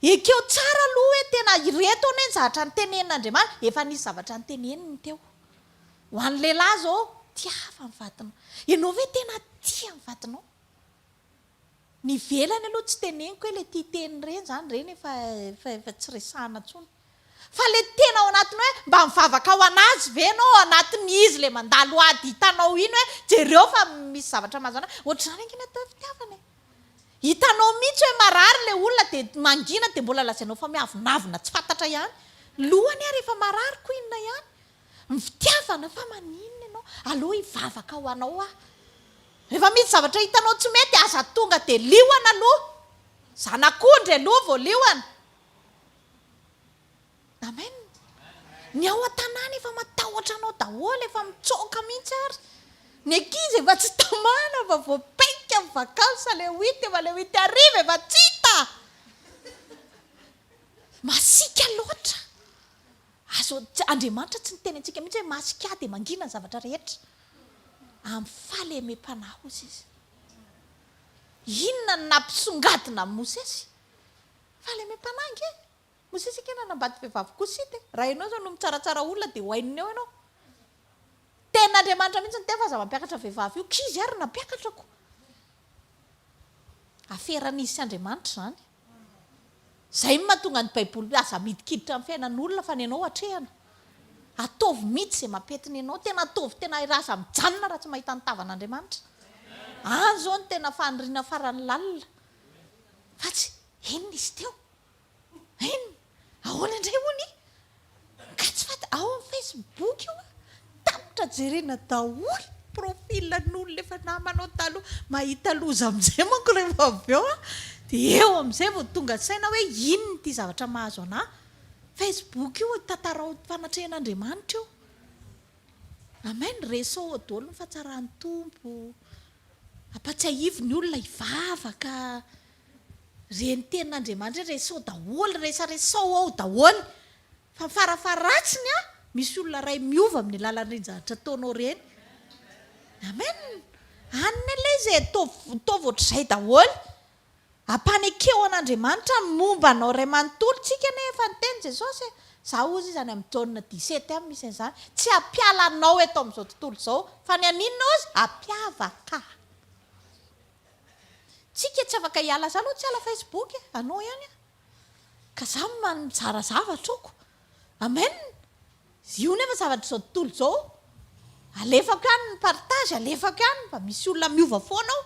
Ekeo tsara aloha hoe tena ireto anie ny zavatra notenenin'Andriamanitra, efa nisy zavatra noteneniny teo. Ho an'ny lehilahy izao, tiava ny vadinao. Ianao ve tena tia ny vadinao? Ny ivelany aloha tsy teneniko hoe ilay tia teny ireny izany ireny efa efa efa tsy resahana intsony. Fa ilay tena ao anatiny hoe mba mivavaka ho an'azy ve ianao ao anatin'ny izy ilay mandalo ady hitanao iny hoe jereo fa misy zavatra mahazo an'azy. Ohatr'izany ange ny atao hoe fitiavana e. Hitanao mihitsy hoe marary ilay olona dia mangina dia mbola lazainao fa miavonavona tsy fantatra ihany. Lohany ary efa marary ko inona ihany. Ny fitiavana fa maninona ianao? Aleo hivavaka ho anao aho. Rehefa misy zavatra hitanao tsy mety aza tonga dia liona aloha. Zanak'ondry aloha vao liona. Amen. Ny ao an-tanàna efa matahotra anao daholo, efa mitsoaka mihitsy ary. Ny ankizy efa tsy tamana fa vao paika ny vacances ilay huit efa ilay huit hariva efa tsy hita. Masiaka loatra. Azo, Andriamanitra tsy niteny antsika mihitsy hoe masika ahy dia mangina ny zavatra rehetra. Amin'ny fahalemem-panahy hozy izy. Inona no nampisongadina an'i Mosesy? Fahalemem-panahy ange. Mosesy ange nanambady vehivavy kosita e. Raha ianao izao no mitsaratsara olona dia ho haininy eo ianao. Tenin'Andriamanitra mihitsy ny teny fa aza mampiakatra vehivavy io. K'izy ary nampiakatra ko. Aferan'izy sy Andriamanitra izany. Izay no mahatonga ny Baiboly hoe aza midikiditra amin'ny fiainan'olona fa ny anao atrehana. Ataovy mihitsy izay mampety ny anao. Tena ataovy tena hay raha aza mijanona raha tsy mahita ny tavan'Andriamanitra. Any izao no tena faniriana farany lalina. Fa tsy, inona izy teo? Inona? Ahoana indray hono i Kajy Faty ao amin'ny Facebook io a! Tapitra jerena daholo profil an'olona efa namanao taloha. Mahita loza amin'izay manko rehefa avy eo aho dia eo amin'izay vao tonga saina hoe inona ity zavatra mahazo anà Facebook io, tantarao fanatrehan'Andriamanitra io. Amen, resaho ao daholo ny fahatsaran'ny Tompo, ampatsiahivo ny olona hivavaka. Re ny tenin'Andriamanitra hoe resaho daholo, resaresaho ao daholo. Fa farafaharatsiny an, misy olona iray miova amin'ny lalan'ireny zavatra ataonao ireny. Amen. Any anie ilay izy e, ataovy ataovy ohatr'izay daholo. Ampanekeho an'Andriamanitra ny momba anao iray manontolo tsika anie efa niteny Jesosy e. Za hozy izany amin'ny Jaona dix-sept any misy an'izany, tsy hampiala anao eto amin'izao tontolo izao, fa ny haninona hozy? Hampiavaka. Tsika tsy afaka hiala za aloha tsy hiala Facebook e! anao ihany aho ka za manjara zavatra ok! amen! io nefa zavatr'izao tontolo izao alefako ihany ny partage alefako ihany mba misy olona miova foana ao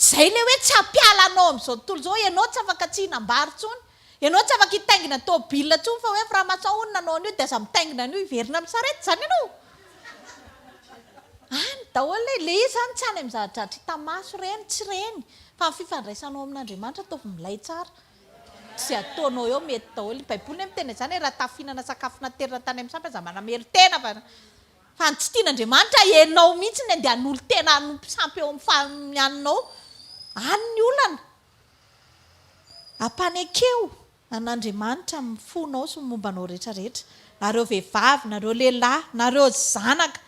zay le hoe tsy hampiala anao am'izao tontolo izao ianao tsy afaka tsy hinam-bary intsony Ianao tsy afaka hitaingina tôbila intsony fa hoe franc-maçon hono nanao an'io dia aza mitaingina an'io hiverina amin'ny sarety izany ianao. Any daholo e! Ilay izy izany tsy any amin'ny zava-dratsy hita maso ireny, tsy ireny, fa ny fifandraisanao amin'Andriamanitra ataovy milay tsara. Izay ataonao eo mety daholo. Ny baiboly anie miteny an'izany e, raha tafihinana sakafo naterina tany amin'ny sampy aza manamelo-tena fa fa ny tsy tian'Andriamanitra ianao mihitsy ny andeha hanolo-tena hanompo sampy eo amin'ny fa- amin'ny haninao. Any ny olana. Ampanekeo an' Andriamanitra amin'ny fonao sy ny momba anao rehetra rehetra, nareo vehivavy, nareo lehilahy, nareo zanaka,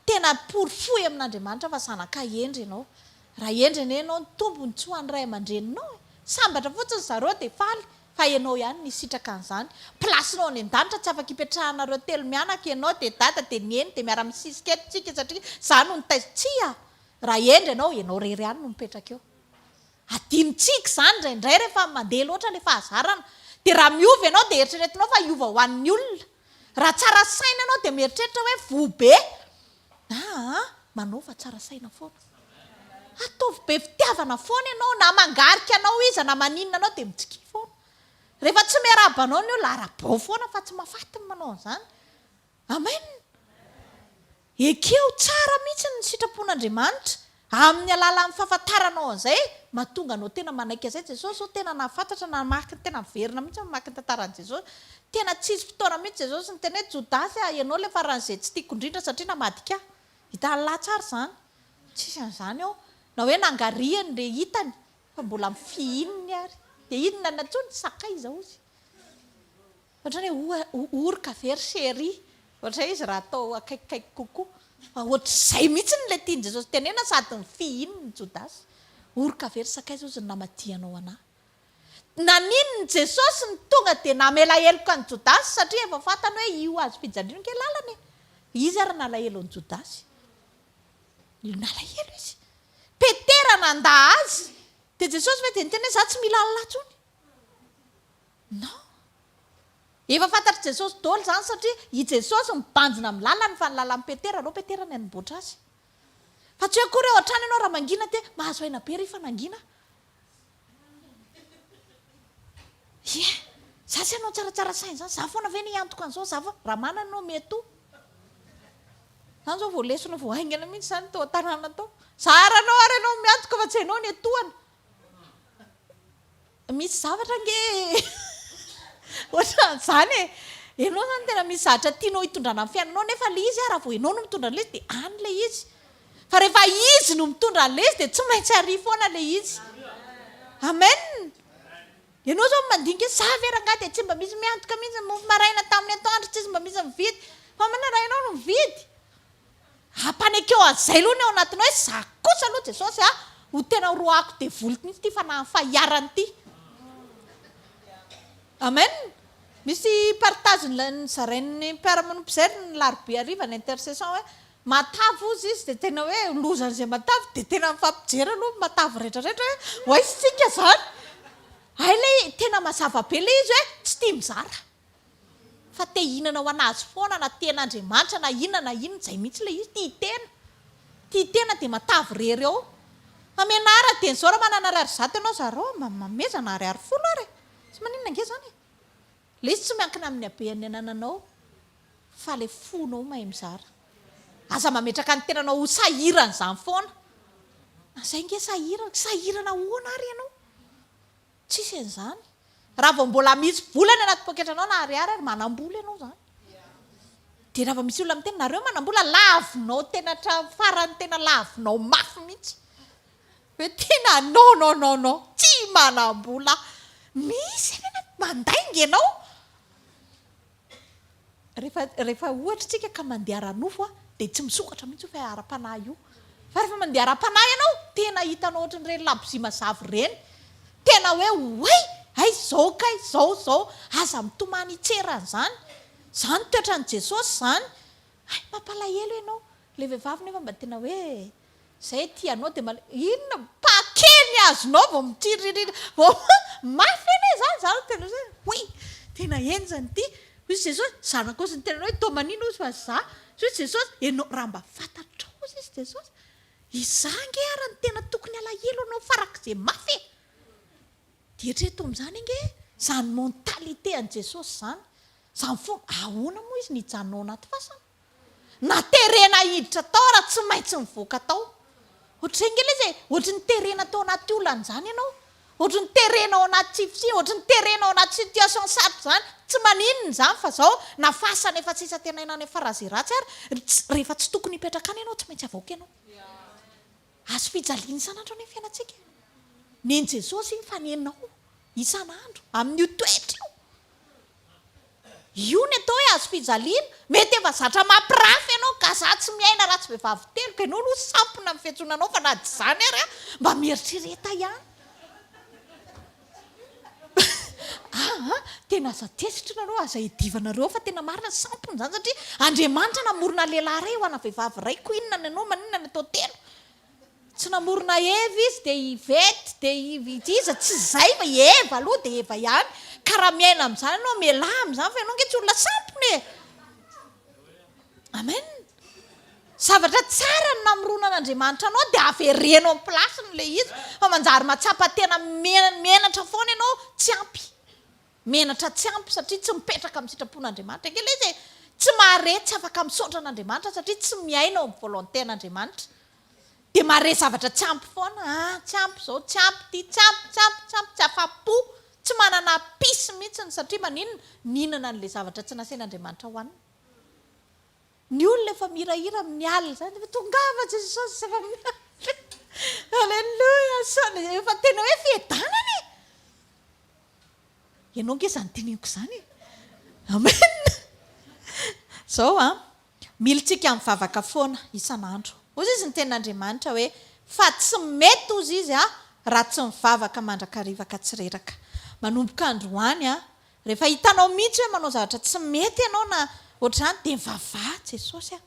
tena porofoy amin' Andriamanitra fa zanaka hendry ianao, raha hendry anie ianao ny Tompo nitsoa ny ray aman-dreninao e! sambatra fotsiny zareo dia faly fa ianao ihany nisitraka an'izany, plasinao any an-danitra tsy afaka ipetrahanareo telo mianaka ianao dia dada dia neny dia miara-misisika eto tsika satria za no nitaiza, tsia! raha hendry ianao, ianao irery ihany no mipetraka eo. Adinontsika izany indraindray rehefa mandeha loatra ilay fahazarana. Dia raha miova ianao dia eritreretinao fa hiova ho an'ny olona. Raha tsara saina ianao dia mieritreritra hoe voa be. Aa manao fa tsara saina foana. Ataovy be fitiavana foana ianao. Na mangarika anao iza na maninona anao dia mitsikia foana. Rehefa tsy miarahaba anao ny olona, arabao foana fa tsy mahafaty ny manao an'izany. Amen! Ekeo tsara mihitsy ny sitrapon'Andriamanitra amin'ny alalan'ny fahafantaranao an'izay mahatonga anao tena manaiky an'izay Jesosy ô, tena nahafantatra, namaky ny tena miverina mihitsy aho mamaky ny tantaran'i Jesosy, tena tsy hisy fotoana mihitsy Jesosy niteny hoe Jodasy a, ianao ilay faran'izay tsy tiako indrindra satria namadika ahy. Hitan'i lahy tsara izany? Tsisy an'izany ao, na hoe nangarihany ilay hitany fa mbola mifihininy ary dia inona ny antsoiny? Sakaiza hozy. Ohatran'ny hoe oroka ve ry chérie? Ohatra izy raha atao akaikikaiky kokoa. Fa ohatr'izay mihitsy no ilay tian'i Jesosy tenena sady ny fihinin'i Jodasy. Oroka ve ry sakaiza hozy ny namadihanao anah? Nanino ny Jesosy no tonga dia namela heloka an'i Jodasy satria efa fantany hoe io hazo fijaliana io ange lalana e! Izy ary nalahelo an'i Jodasy. Nalahelo izy. Petera nandà azy. Dia Jesosy ve dia niteny hoe za tsy mila Allah intsony? Non! Efa fantatr'i Jesosy dôly zany satria i Jesosy mibanjina amin'ny lalany fa ny lalan'i Petera alou Petera no nianboatra azy. Fa tsy hoe akory ao an-trano ianao raha mangina te mahazo aina be ry fa nangina aho. Ie! Za tsy hanao tsaratsara saina zany, za foana ve no hiantoka an'zao, za foana, raha manana ianao me too. Zany zao vao lesona vao haingana mihitsy zany tao an-tanàna tao. Za ary anao ary ianao miantoka fa tsy hainao ny etoana. Misy zavatra ange ohatran'izany e! Ianao izany tena misy zavatra tianao hitondrana amin'ny fiainanao nefa ilay izy raha vao ianao no mitondra an'ilay izy dia any ilay izy. Fa rehefa izy no mitondra an'ilay izy dia tsy maintsy arỳ foana ilay izy. Amen! Ianao izao mandinika hoe za ve rangahy dia tsy mba misy miantoka mihitsy ny mofo maraina tamin'ny atoandro, tsisy mba misy mividy. Fa manana ianao no mividy. Ampanekeo an'izay aloha ny ao anatinao hoe za kosa aloha Jesosy a, ho tena horoahako devoly mihitsy ity fanahin'ny fahiarany ity. Amen. Misy partage nozarain'ny mpiara-monina mpijery ny larobia hariva ny intercession hoe matavy hozy izy dia tena hoe loza an'izay matavy dia tena mifampijery aloha ny matavy rehetra rehetra hoe ho aiza isika izany. Hay ilay tena mazava be ilay izy hoe tsy tia mizara. Fa te hihinana ho an'azy foana na tena Andriamanitra na inona na inona, izay mihitsy ilay izy, tia tena, tia tena dia matavy irery ao. Hamena ahy raha dieny zao raha manana ariary zato ianao zarao mba mamezana ariary folo ary e! Tsy maninona ange izany e! Ilay izy tsy miankina amin'ny habean'ny anananao fa ilay fonao mahay mizara. Aza mametraka ny tenanao ho sahiran'izany foana. Izay ange sahirana, sahirana ahoana ary ianao? Tsisy an'izany. Raha vao mbola mitsy vola any anaty poketranao na ariary ary manambola ianao izany. Dia raha vao misy olona miteny nareo manambola lavinao tena hatramin'ny farany tena lavinao mafy mihitsy. Hoe tena non non non non tsy manambola mihitsy any anaty mandainga ianao. Rehefa rehefa ohatra isika ka mandeha ara-nofo a, dia tsy misokatra mihitsy io fa ara-panahy io. Fa rehefa mandeha ara-panahy ianao, tena hitanao ohatran'ireny labozia mazava ireny. Tena hoe oay! Hay izao kay, izao izao. Aza mitomany hitsera an'izany. Izany toetran'i Jesosy izany. Hay mampalahelo ianao. Ilay vehivavy nefa mba tena hoe. Zay tianao de male-. Inona paquet ny azonao vao mitiriririra vao mafy anie zany za no tena hoe oui tena henjana ity hoy Jesosy, zanako hozy niteny anao hoe toa manina hozy fa za hoy Jesosy, ianao raha mba fantatrao hozy izy Jesosy iza ange ary no tena tokony alahelo anao farak'izay mafy e! dia eritrereto amin'izany ange izany mentalité an'i Jesosy izany, izany foana, ahoana moa izy nijanona ao anaty fasana? Na terena hiditra tao ara tsy maintsy mivoaka tao. Ohatry izay ngela izy e, ohatry ny terena tao anaty olana izany ianao, ohatry ny terena ao anaty tsifitsy, ohatry ny terena ao anaty situation sarotra izany, tsy maninona izany fa izao na fasana efa tsy isan-tenaina any amin'ny phrase ratsy ary, rehefa tsy tokony hipetraka any ianao tsy maintsy avoaka ianao. Azo fijaliana isan'andro anie ny fiainantsika. Nen'i Jesosy iny fa nenao isan'andro amin'io toetra io. Io ny atao hoe azo fijaliana. Mety efa zatra mampirafy ianao, kazaha tsy miaina raha tsy vehivavy teloka, ianao aloha sampona amin'ny fiantsoana anao fa na tsy izany ary aho mba mieritrereta ihany. Ah ah, tena aza tezitra nareo, aza iadivanareo fa tena marina ny sampona zany satria Andriamanitra namorona lehilahy ray ho ana vehivavy ray ko inona ny anao maninona ny atao telo? tsy namorona Eva izy de Yvette de iza tsy zay fa Eva aloha de Eva ihany ka raha miaina amzany anao mialà amzany fa ianao nge tsy olona sampona e! Amen! Zavatra tsara ny namorona an'Andriamanitra anao dia avereno amin'ny place-ny ilay izy fa manjary mahatsapa tena menatra foana ianao tsy ampy. Menatra tsy ampy satria tsy mipetraka amin'ny sitrapon'Andriamanitra ange ilay izy e! Tsy mahare, tsy afaka misaotra an'Andriamanitra satria tsy miaina ao amin'ny volonté-n'Andriamanitra. Dia mahare zavatra tsy ampy foana, ah, tsy ampy izao, tsy ampy ity, tsy ampy, tsy ampy, tsy ampy, tsy afa-po, tsy manana peace mihitsy satria maninona? Nihinana an'ilay zavatra tsy nasain'Andriamanitra hohanina. Ny olona efa mihirahira amin'ny alina izany hoe tongava Jesosy zava miafina Aleloia Asana efa tena hoe fiadanana e! Ianao ange izany teneniko izany e! Amen! Izao an, milintsika amin'ny vavaka foana isan'andro. Hoy izy ny tenin'Andriamanitra hoe fa tsy mety hozy izy aho raha tsy mivavaka mandrakariva ka tsy reraka. Manomboka androany an, Rehefa hitanao mihitsy hoe manao zavatra tsy mety ianao na ohatr'izany dia mivavaha Jesosy a!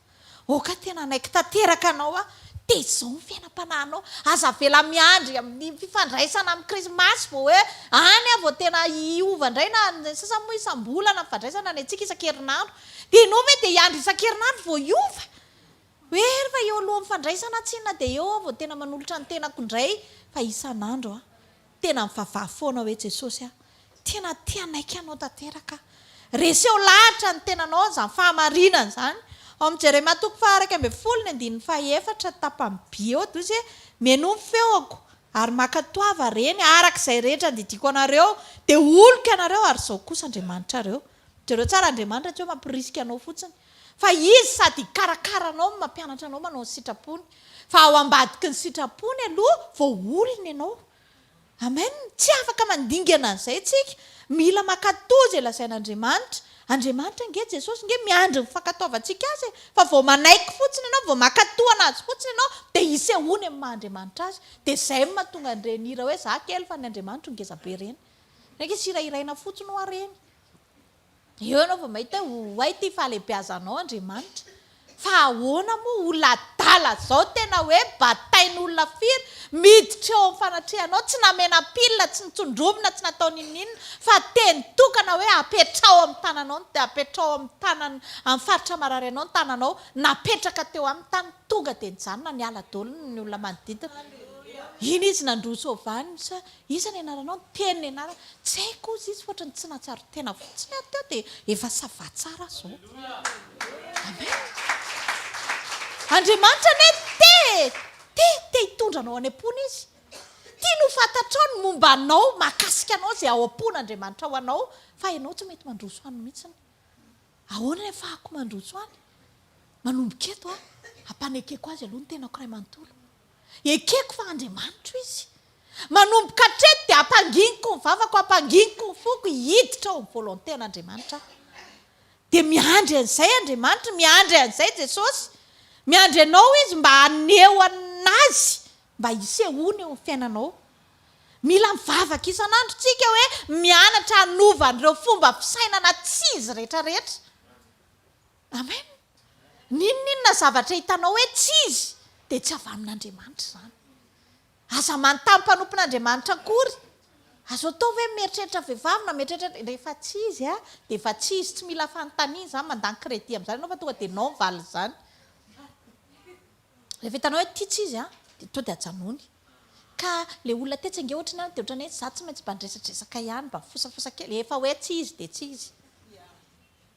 Oka tena hanaiky tanteraka anao aho, tezao ny fiainam-panahinao, aza avela miandry amin'ny fifandraisana amin'ny krismasy vao hoe any aho vao tena hiova indray na ny sasany moa isam-bolana mifandraisana ny antsika isan-kerinandro dia ianao ve dia hiandry isan-kerinandro vao hiova? Hoe rehefa eo alohan'ny fandraisana tsinona dia eo aho vao tena manolotra ny tenako indray fa isan'andro an! Tena mivavaha foana hoe Jesosy a, tena te hanaiky anao tanteraka aho. Reseho lahatra ny tenanao izany fahamarinana izany. Ao amin'ny Jeremia toko faha iraika ambin'ny folo ny andininy faha efatra tapany B eo dia hoy izy hoe, Mihainoa ny feoko, ary mankatoava, reny, araka izay rehetra andidiako anareo, dia holoko ianareo, ary izaho kosa Andriamanitrareo. Jereo tsara, Andriamanitra tsy hoe mampirisika anao fotsiny, Fa Izy sady hikarakara anao no mampianatra anao manao ny sitrapony. Fa ao ambadiky ny sitrapony aloha vao olona ianao. Amen! Tsy afaka mandingana an'izay tsika. Mila mankatò izay lazain'Andriamanitra. Andriamanitra ange Jesosy ange miandry ny fankatoavantsika Azy e! Fa vao manaiky fotsiny ianao, vao mankatò an'Azy fotsiny ianao, dia hisehoany amin'ny maha Andriamanitra Azy. Dia izay no mahatonga an'ireny hira hoe, Za kely fa ny Andriamanitro ngeza be ireny. Ny ange tsy hirahiraina fotsiny hoa ireny. Eo ianao vao mahita hoe oay ity fahalehibeazanao Andriamanitra. Fa ahoana moa olona adala izao tena hoe batain'olona firy miditra eo amin'ny fanatrehanao tsy namena pile tsy nitsondrovina tsy natao n'inon'inona fa teny tokana hoe apetraho amin'ny tananao ny apetraho amin'ny tanan amin'ny faritra marary anao ny tananao napetraka teo aminy tany tonga dia nijanona niala daholo ny olona manodidina iny izy nandroso avy any sa Iza ny anaranao? Niteny ny anarany. Tsy haiko ozy izy ohatran'ny tsy nahatsiaro tena fotsiny ary teo dia efa ça va tsara azy zao. Amen. Andriamanitra anie te, te, te hitondra anao any am-pony izy. Tiany ho fantatrao ny momba anao, mahakasika anao izay ao am-pon' Andriamanitra ho anao fa ianao tsy mety mandroso any mihitsiny. Ahoana ny hafahako mandroso any? Manomboka eto aho, hampanekeko azy aloha ny tenako iray manontolo. Ekeko fa Andriamanitro Izy. Manomboka hatreto dia ampanginiko ny vavako, ampanginiko ny foko hiditra ao amin'ny volonté an'Andriamanitra aho. Dia miandry an'izay Andriamanitra, miandry an'izay Jesosy. Miandry anao Izy mba haneho an'Azy, mba hisehoany eo amin'ny fiainanao. Mila mivavaka isan'andro tsika hoe mianatra hanova an'ireo fomba fisainana tsy izy rehetra rehetra. Amen! N'inon'inona zavatra hitanao hoe tsy izy dia tsy avy amin'Andriamanitra izany. Aza manontany mpanompon'Andriamanitra akory. Azo atao ve mieritreritra vehivavy na mieritreritra rehefa tsy izy a dia efa tsy izy tsy mila fanontaniana izany mandany crédit amin'izany ianao fa tonga dia non valin' izany. Rehefa hitanao hoe ity tsy izy a dia tonga dia ajanony. Ka ilay olona tetsy ange ohatry ny any dia ohatran'ny hoe izaho tsy maintsy mba niresadresaka ihany mba mifosafosa kely. Efa hoe tsy izy dia tsy izy.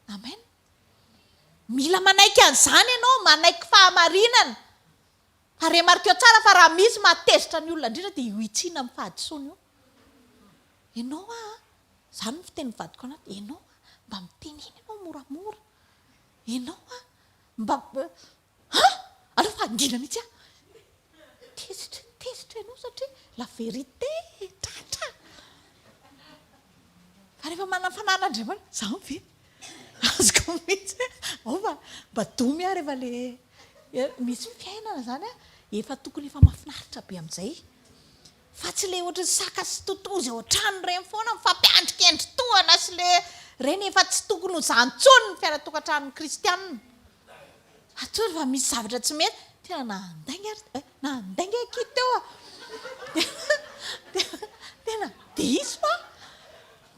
Amen. Mila manaiky an'izany ianao, manaiky fahamarinana. Ary remarqueo tsara fa raha misy mahatezitra ny olona indrindra dia io hitsiana amin'ny fahadisoana io. Ianao a, izany no fitenin'ny vadiko anà, ianao a, mba mitenena ianao moramora. Ianao a, mba An! Aleo fahangina mihitsy aho. Tezitra, tezitra ianao satria la vérité, tratra. Fa rehefa manana fanahy an'Andriamanitra, izany ve? Azoko mihitsy hoe ao fa mba domy aho rehefa ilay misy fiainana izany an, efa tokony efa mahafinaritra be amin'izay. Fa tsy ilay ohatran'ny saka sy totozy ao an-trano ireny foana mifampiandrikendry tohana sy ilay ireny efa tsy tokony ho izany intsony ny fiainan-tokantranon'ny kristiana. Atoro fa misy zavatra tsy mety. Tena nandainga ary eh, nandainga akia teo ah. Tena diso ah.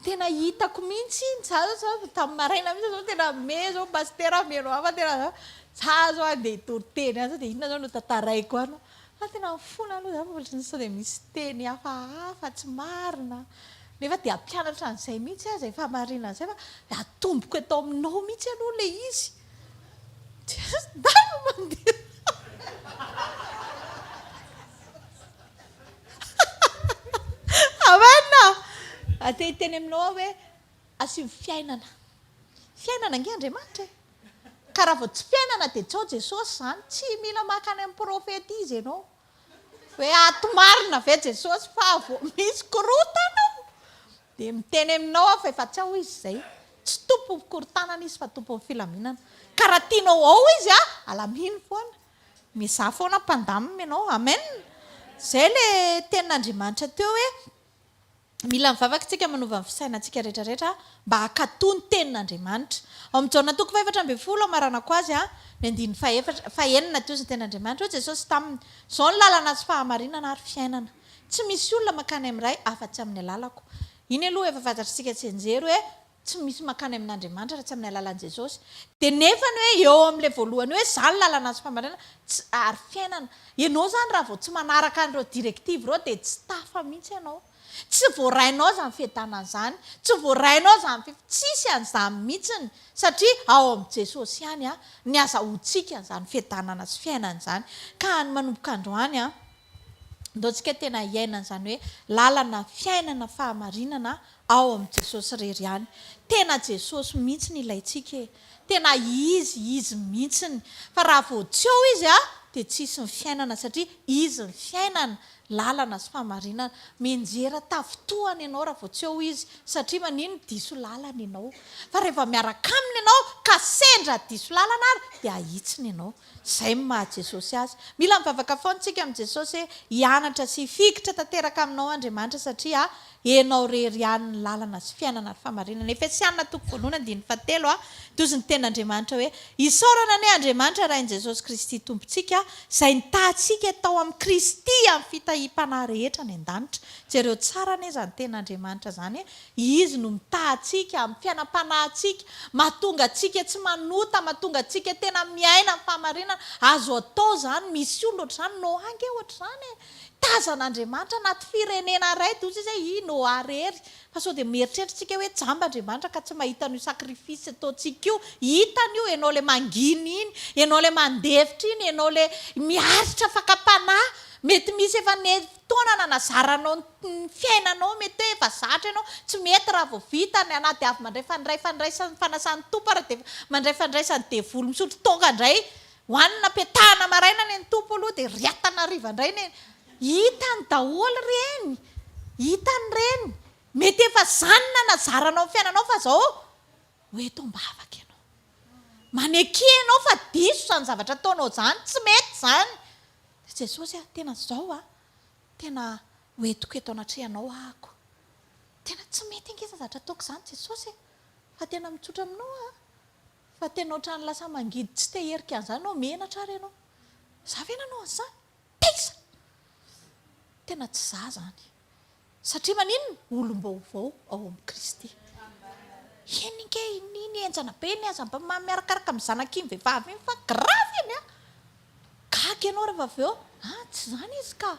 Tena hitako mihitsy iny za zao tamin'ny maraina mihitsy zao tena me zao pasitera mino ahy fa tena za zao andeha hitory teny any dia inona zao no tantaraiko any. Fa tena ny fona aloha za fa ohatry ny sao dia misy teny hafahafa tsy marina nefa dia hampianatra an'izay mihitsy aho izay fahamarinana izay fa dia atomboko eto aminao mihitsy aloha ilay izy dia zandry mandeha Amen ah! Dia te hiteny aminao aho hoe Asio fiainana. Fiainana ange Andriamanitra e! Ka raha vao tsy fiainana dia tsoa Jesosy izany, tsy mila maka any amin'ny profeta izy ianao hoe ato marina ve Jesosy fa vao misy korontana ao dia miteny aminao aho fa efa tsy ao izy izay. Tsy tompon'ny fikorontanana izy fa tompon'ny filaminana. Ka raha tianao ao izy a, alamino foana. Miezaha foana hampandamina ianao. Amen. Izay ilay tenin'Andriamanitra teo hoe Mila ny vavaka isika manova ny fisainantsika rehetra rehetra mba hankatò ny tenin'Andriamanitra. Ao amin'ny Jaona toko fahefatra ambin'ny folo hamaranako azy an, ny andininy fahefatra, fahenina, toa izy ny tenin'Andriamanitra, hoy Jesosy taminy, Izao no lalana sy fahamarinana ary fiainana. Tsy misy olona mankany amin'ny Ray afa-tsy amin'ny alalako. Iny aloha efa fantatrisika tsy hianjera hoe. Tsy misy mankany amin'Andriamanitra raha tsy amin'ny alalan'i Jesosy. Dia nefa ny hoe eo amin'ilay voalohany hoe izaho ny lalana sy famarinana tsy ary fiainana. Ianao izany raha vao tsy manaraka an'ireo directives ireo dia tsy tafa mihitsy ianao. Tsy voarainao izany fiadanana izany. Tsy voarainao izany fi, tsisy an'izany mihitsiny satria ao amin'i Jesosy ihany ny azahoantsika an'izany fiadanana sy fiainana izany. Ka ny manomboka androany an. Ndao tsika tena hiaina an'izany hoe lalana fiainana fahamarinana ao amin'i Jesosy irery ihany. Tena Jesosy mihitsy no ilaintsika e! Tena Izy, Izy mihitsy ny. Fa raha vao tsy ao Izy an, dia tsisy ny fiainana satria Izy ny fiainana, lalana sy fahamarinana. Mianjera tafintohana ianao raha vao tsy ao Izy satria manino? Diso lalana ianao. Fa rehefa miaraka Aminy ianao ka sendra diso lalana ary dia ahitsiny ianao. Izay no maha Jesosy Azy. Mila mivavaka foana isika amin'i Jesosy hoe hianatra sy hifikitra tanteraka aminao Andriamanitra satria enao rery ihany ny lalana sy fiainana ary famarinana. Efesiana toko voalohany andininy fahatelo a Tozy ny tenin'Andriamanitra hoe Isaorana anie Andriamanitra Rain'i Jesosy Kristy Tompontsika izay nitaha antsika tao amin'i Kristy amin'ny fitahiam-panahy rehetra any an-danitra. Jereo tsara anie izany tenin'Andriamanitra izany e. Izy no mitaha antsika amin'ny fiainam-panahintsika, mahatonga antsika tsy manota, mahatonga antsika tena miaina ny fahamarinana. Azo atao izany, misy olona ohatr'izany, Noa ange ohatr'izany e! Tazana Andriamanitra anaty firenena iray dia hoy izy hoe, i Noa irery. Fa sao dia mieritreritrantsika hoe jamba Andriamanitra ka tsy mahita an'io sacrifice ataontsika io. Hitany io, ianao ilay mangina iny, ianao ilay mandefitra iny, ianao ilay miaritra fakam-panahy. Mety misy efa fotoana nanazaranao ny. Ny fiainanao mety hoe efa zatra ianao, tsy mety raha vao vita ny anah dia avy mandray fandray fandraisan'ny fanasan'ny Tompo ary dia mandray fandraisan'ny devoly misotro toaka indray, hoanina am-piatahana maraina anie ny Tompo aloha dia riatana hariva indray anie, hitany daholo ireny, hitany ireny, mety efa izany no nanazaranao amin'ny fiainanao fa izao ho eto am-bavaka ianao, maneke ianao fa diso izany zavatra ataonao izany, tsy mety izany, dia Jesosy ah, tena izao ah, Tena hoentiko eto anatrehanao ahako. Tena tsy mety ange izany zavatra ataoko izany Jesosy e! Fa tena mitsotra aminao aho fa tena ohatran'ny lasa mangidy tsy te hierika an'izany aho, menatra ary ianao. Za ve nanao an'izany? Taiza! Tena tsy za izany. Satria maninona? Olom-baovao ao amin'i Kristy. Eny ange, iny henjana be iny aza mba miharakaraka amin'ny zanak'iny vehivavy iny fa gravy iny an! Gaga ianao rehefa avy eo, a, tsy izany izy ka.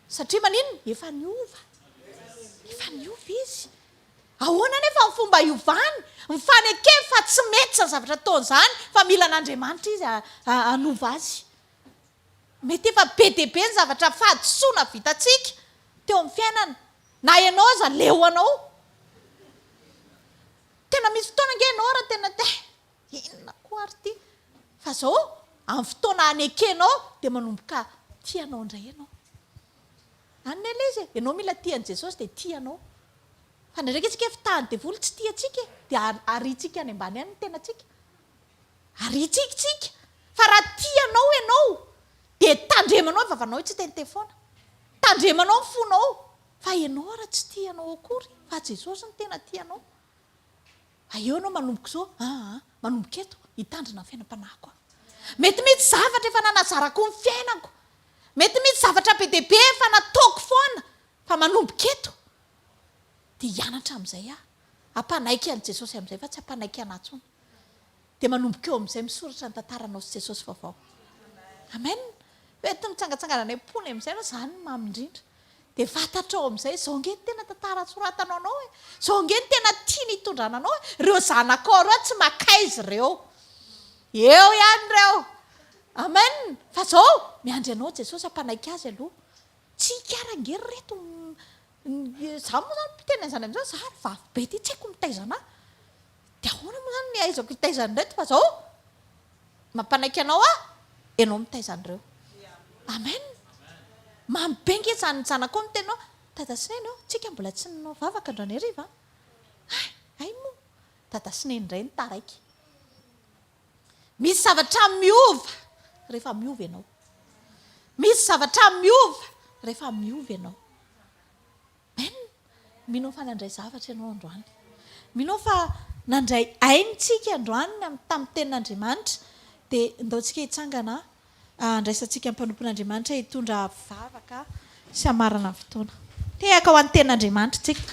Satria maninona? Efa niova. Efa niova izy. Ahoana anefa ny fomba hiovany? Mifanekeny fa tsy mety izany zavatra ataony izany, fa mila an'Andriamanitra izy hanova azy. Mety efa be dia be ny zavatra fahadisoana vitantsika teo amin'ny fiainana. Na ianao aza leo anao. Tena misy fotoana ange ianao raha tena te Inona koa ary ity fa zao amin'ny fotoana hanekenao dia manomboka tia anao indray ianao. Any ny Alezy e, ianao mila tia an'i Jesosy dia tia anao. Fa indraindray akia tsika fitahan'ny devoly tsy tia antsika e, dia ariantsika any ambany any ny tenantsika. Ariantsika tsika fa raha tia anao ianao dia tandremanao ny vavanao tsy hiteniteny foana. Tandremanao ny fonao fa ianao ary tsy tia anao akory fa Jesosy no tena tia anao. Aeo ianao manomboka izao aa, manomboka eto, hitandrina ny fiainam-panahiko aho. Mety mihitsy zavatra efa nanazarako ny fiainako, mety mihitsy zavatra be dia be efa nataoko foana, fa manomboka eto dia hianatra amin'izay aho, hampanaiky an'i Jesosy amin'izay fa tsy hampanaiky anà intsony. Dia manomboka eo amin'izay misoratra ny tantaranao sy Jesosy vaovao. Amen. Mety mitsangatsangana any am-pony amin'izay ianao, izany no mamy indrindra. Dia fantatrao amin'izay, izao ange no tena tantara soratanao anao e. Izao ange no tena tiany hitondrana anao e. Ireo zanakao ireo tsy makaiza ireo. Eo ihany ireo. Amen. Fa izao, miandry anao Jesosy hampanaiky azy aloha. Tsy ika ary ange ry reto. Izaho moa izany miteny an'izany amin'izany, izaho ary vavy be ity, tsy haiko ny mitaiza anà. Dia ahoana moa izany ny ahaizako hitaiza an'ireto fa izao mampanaiky anao aho, ianao mitaiza an'ireo. Amen. Mamy be nge izany zanakao ny teninao. Dada sy Neny ô, tsika mbola tsy nanao vavaka androany hariva an. Hay, hay moa. Dada sy Neny indray no taraiky. Misy zavatra miova rehefa miova ianao. Misy zavatra miova rehefa miova ianao. Amen! Mino fa nandray zavatra ianao androany. Mino fa nandray ainy tsika androany tamin'ny tenin'Andriamanitra. Dia ndao tsika hitsangana handraisantsika ny mpanompon'Andriamanitra hitondra vavaka sy hamarana ny fotoana. Tehaka ho an'ny tenin'Andriamanitra tsika.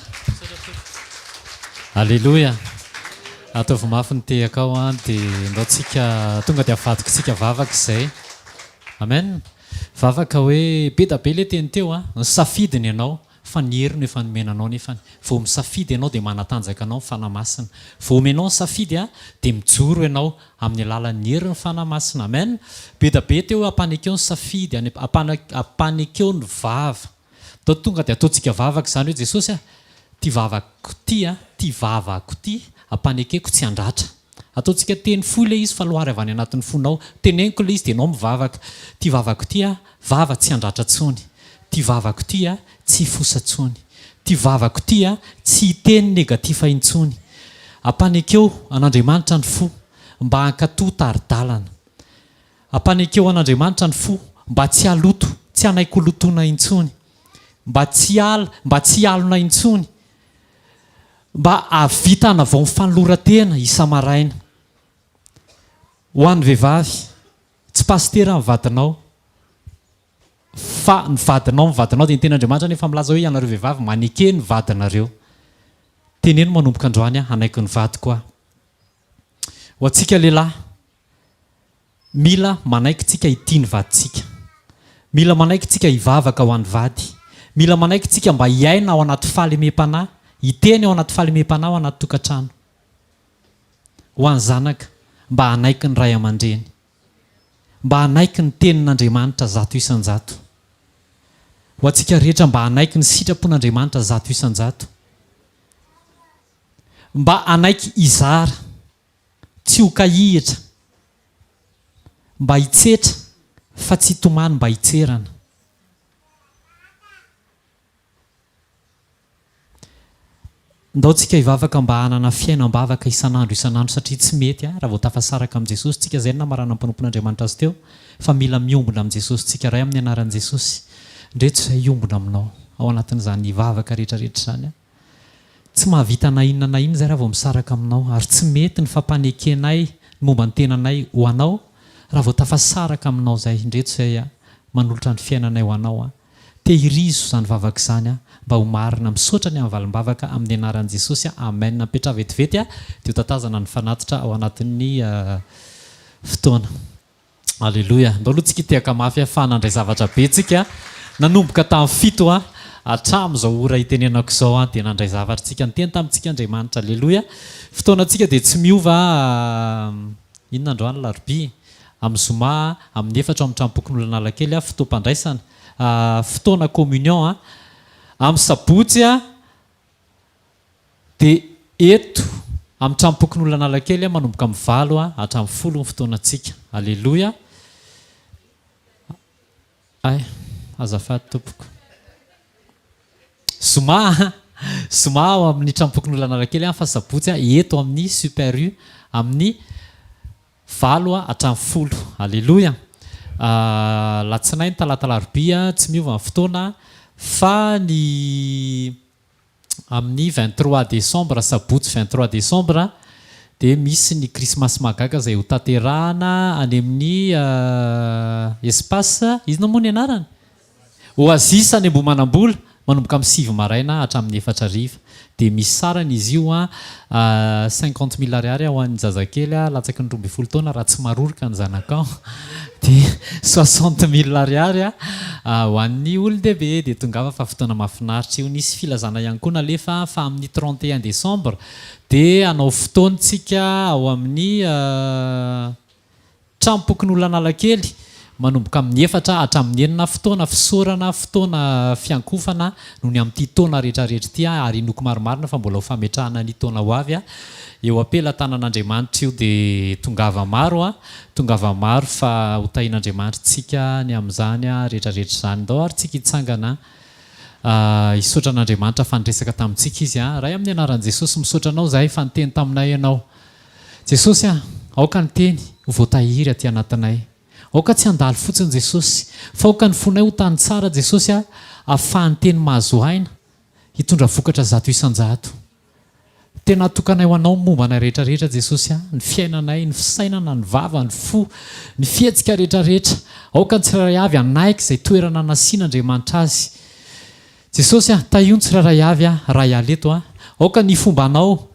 Aleloia! Ataovy mafy ny tehakao an, dia ndao tsika tonga dia avadikitsika vavaka izay. Amen! Vavaka hoe be da be le teny teo a! Ny safidy no ianao fa ny hery no efa nomena anao nefany vao misafidy ianao dia manatanjaka anao ny Fanahy Masina. Vao omenao ny safidy a! dia mijoro ianao amin'ny alalan'ny herin'ny Fanahy Masina. Amen! Be da be teo hoe ampanekeo ny safidy, ampanekeo ny vava. Dao tonga dia ataontsika vavaka izany hoe Jesosy a, ity vavako ity a, ity vavako ity ampanekeko tsy handratra. Ataontsika teny fohy ilay izy fa lohary avy any anatin'ny fonao. Teneniko ilay izy dia ianao mivavaka. Ity vavako ity a, vava tsy handratra intsony. Ity vavako ity a, tsy hifosa intsony. Ity vavako ity a, tsy hiteny negatifa intsony. Ampanekeo an'Andriamanitra ny fo mba hankatò tari-dalana. Ampanekeo an'Andriamanitra ny fo mba tsy haloto, tsy hanaiky ho lotoina intsony, mba tsy hiala, mba tsy hialona intsony, mba hahavita hanavao ny fanoloran-tena isa-maraina. Ho an'ny vehivavy, tsy pasitera ny vadinao, fa ny vadinao, ny vadinao dia ny Tenin'Andriamanitra anefa milaza hoe ianareo vehivavy maneke ny vadinareo. Teneno manomboka androany aho hanaiky ny vadiko aho. Ho antsika lehilahy. Mila manaiky tsika hitia ny vadintsika. Mila manaiky tsika hivavaka ho an'ny vady. Mila manaiky tsika mba hiaina ao anaty fahalemem-panahy, hiteny ao anaty fahalemem-panahy ao anaty tokantrano. Ho an'ny zanaka, mba hanaiky ny ray aman-dreny. Mba hanaiky ny tenin'Andriamanitra zato isan-jato. Ho antsika rehetra mba hanaiky ny sitrapon'Andriamanitra zato isan-jato. Mba hanaiky hizara. tsy ho kahihitra mba hitsetra fa tsy hitomany mba hitserana. Ndao tsika hivavaka mba hanana fiainam-bavaka isan'andro isan'andro satria tsy mety raha vao tafasaraka amin'i Jesosy tsika izay no namaranan'ny mpanompon'Andriamanitra azy teo fa mila miombona amin'i Jesosy tsika Ray amin'ny anaran'i Jesosy ndreto izay hiombona aminao ao anatin'izany vavaka rehetra rehetra izany aho Tsy mahavita na inona na inona izay raha vao misaraka aminao, ary tsy mety ny fampanekenay ny momba ny tenanay ho anao raha vao tafasaraka aminao izay. Indreto izay aho manolotra ny fiainanay ho anao aho. Tehirizo izany vavaka izany aho mba ho marina. Misaotra ny amin'ny valim-bavaka amin'ny anaran'i Jesosy aho. Amen. Mipetraha vetivety aho dia ho tatazana ny fanatitra ao anatin'ny fotoana. Aleloia. Andao aloha tsika hitehaka mafy ahy fa nandray zavatra be tsika nanomboka tamin'ny fito hatramin'izao ora hitenenako izao dia nandray zavatra tsika niteny tamintsika Andriamanitra. Aleloia. Fotoanantsika dia tsy miova inona androany alarobia? Amin'ny zoma amin'ny efatra ao amin'ny tranompokon'Oloanalakely fotoam-pandraisana fotoana communion. Amin'ny sabotsy Dia eto amin'ny Tranompokonolon'Analakely manomboka amin'ny valo hatramin'ny folo ny fotoanantsika. Aleloia. Ay, azafady tompoko. Zoma, zoma ao amin'ny Tranompokonolon'Analakely fa sabotsy eto amin'ny Super U amin'ny valo hatramin'ny folo. Aleloia. Alatsinainy, talata, alarobia tsy miova ny fotoana fa ny amin'ny vingt trois décembre, sabotsy vingt trois décembre, dia misy ny krismasy mahagaga izay hotanterahana any amin'ny espace inona moa ny anarany? Oasis any Ambohimanambola, manomboka amin'ny sivy maraina hatramin'ny efatra hariva. Dia misy sarany izy io, Cinquante mille ariary ho an'ny zazakely latsaky ny roa ambin'ny folo taona raha tsy maroroka ny zanakao, dia soixante mille ariary ho an'ny olon-dehibe. Dia tongava fa fotoana mahafinaritra io. Nisy filazana ihany koa nalefa fa amin'ny trente et un décembre dia hanao fotoan-tsika ao amin'ny Tranompokonolon'Analakely, Manomboka amin'ny efatra hatramin'ny enina fotoana fisaorana, fotoana fiankofana noho ny amin'ity taona rehetrarehetra ity ary inoako marimarina fa mbola ho fametrahana ny taona ho avy eo am-pelatanan'Andriamanitra io dia tongava maro tongava maro fa ho tahin'Andriamanitra tsika ny amin'izany rehetrarehetra izany ndao ary tsika hitsangana hisaotra an'Andriamanitra fa niresaka tamintsika izy Ray amin'ny anaran'i Jesosy misaotra anao izahay fa niteny taminay ianao Jesosy a, aoka ny Teny ho voatahiry aty anatinay. Aoka tsy handalo fotsiny Jesosy, fa aoka ny fonay ho tany tsara Jesosy a, afahan'ny Teny mahazo aina hitondra vokatra zato isan-jato. Tena atokanay ho Anao ny momba anay rehetra rehetra Jesosy a, ny fiainanay, ny fisainana, ny vava, ny fo, ny fihetsika rehetra rehetra. Aoka ny tsirairay avy hanaiky izay toerana nasiana Andriamanitra azy. Jesosy a, tahio ny tsirairay avy a, raha hiala eto a, aoka ny fomba anao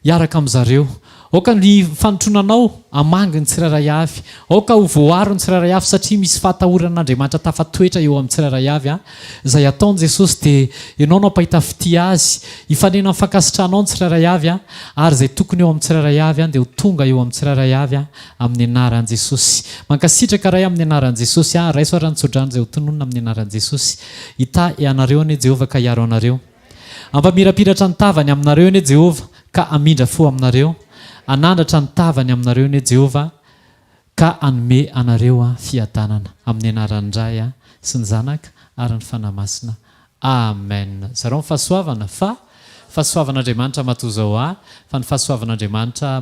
hiaraka amin zareo, aoka ny fanotrona anao hamangy ny tsirairay avy, aoka ho voaro ny tsirairay avy satria misy fahatahoran Andriamanitra tafatoetra eo amin tsirairay avy a, izay ataony Jesosy dia Ianao no hampahita fitia azy, hifanena amin fankasitrahanao ny tsirairay avy a, ary izay tokony eo amin tsirairay avy a dia ho tonga eo amin tsirairay avy a, amin anaran Jesosy. Mankasitraka Ray amin anaran Jesosy a, raiso ary ny tsodrano izay ho tononina amin anaran Jesosy. Hitahy anareo anie Jehovah ka hiaro anareo. Hampamirapiratra ny tavany aminareo anie Jehovah ka hamindra fo aminareo. Hanandratra ny tavany aminareo anie Jehovah ka hanome anareo fiadanana. Amin'ny anaran'ny Ray sy ny Zanaka ary ny Fanahy Masina. Amen. Zarao ny fahasoavana fa fahasoavan'Andriamanitra matoa izao ahy fa ny fahasoavan'Andriamanitra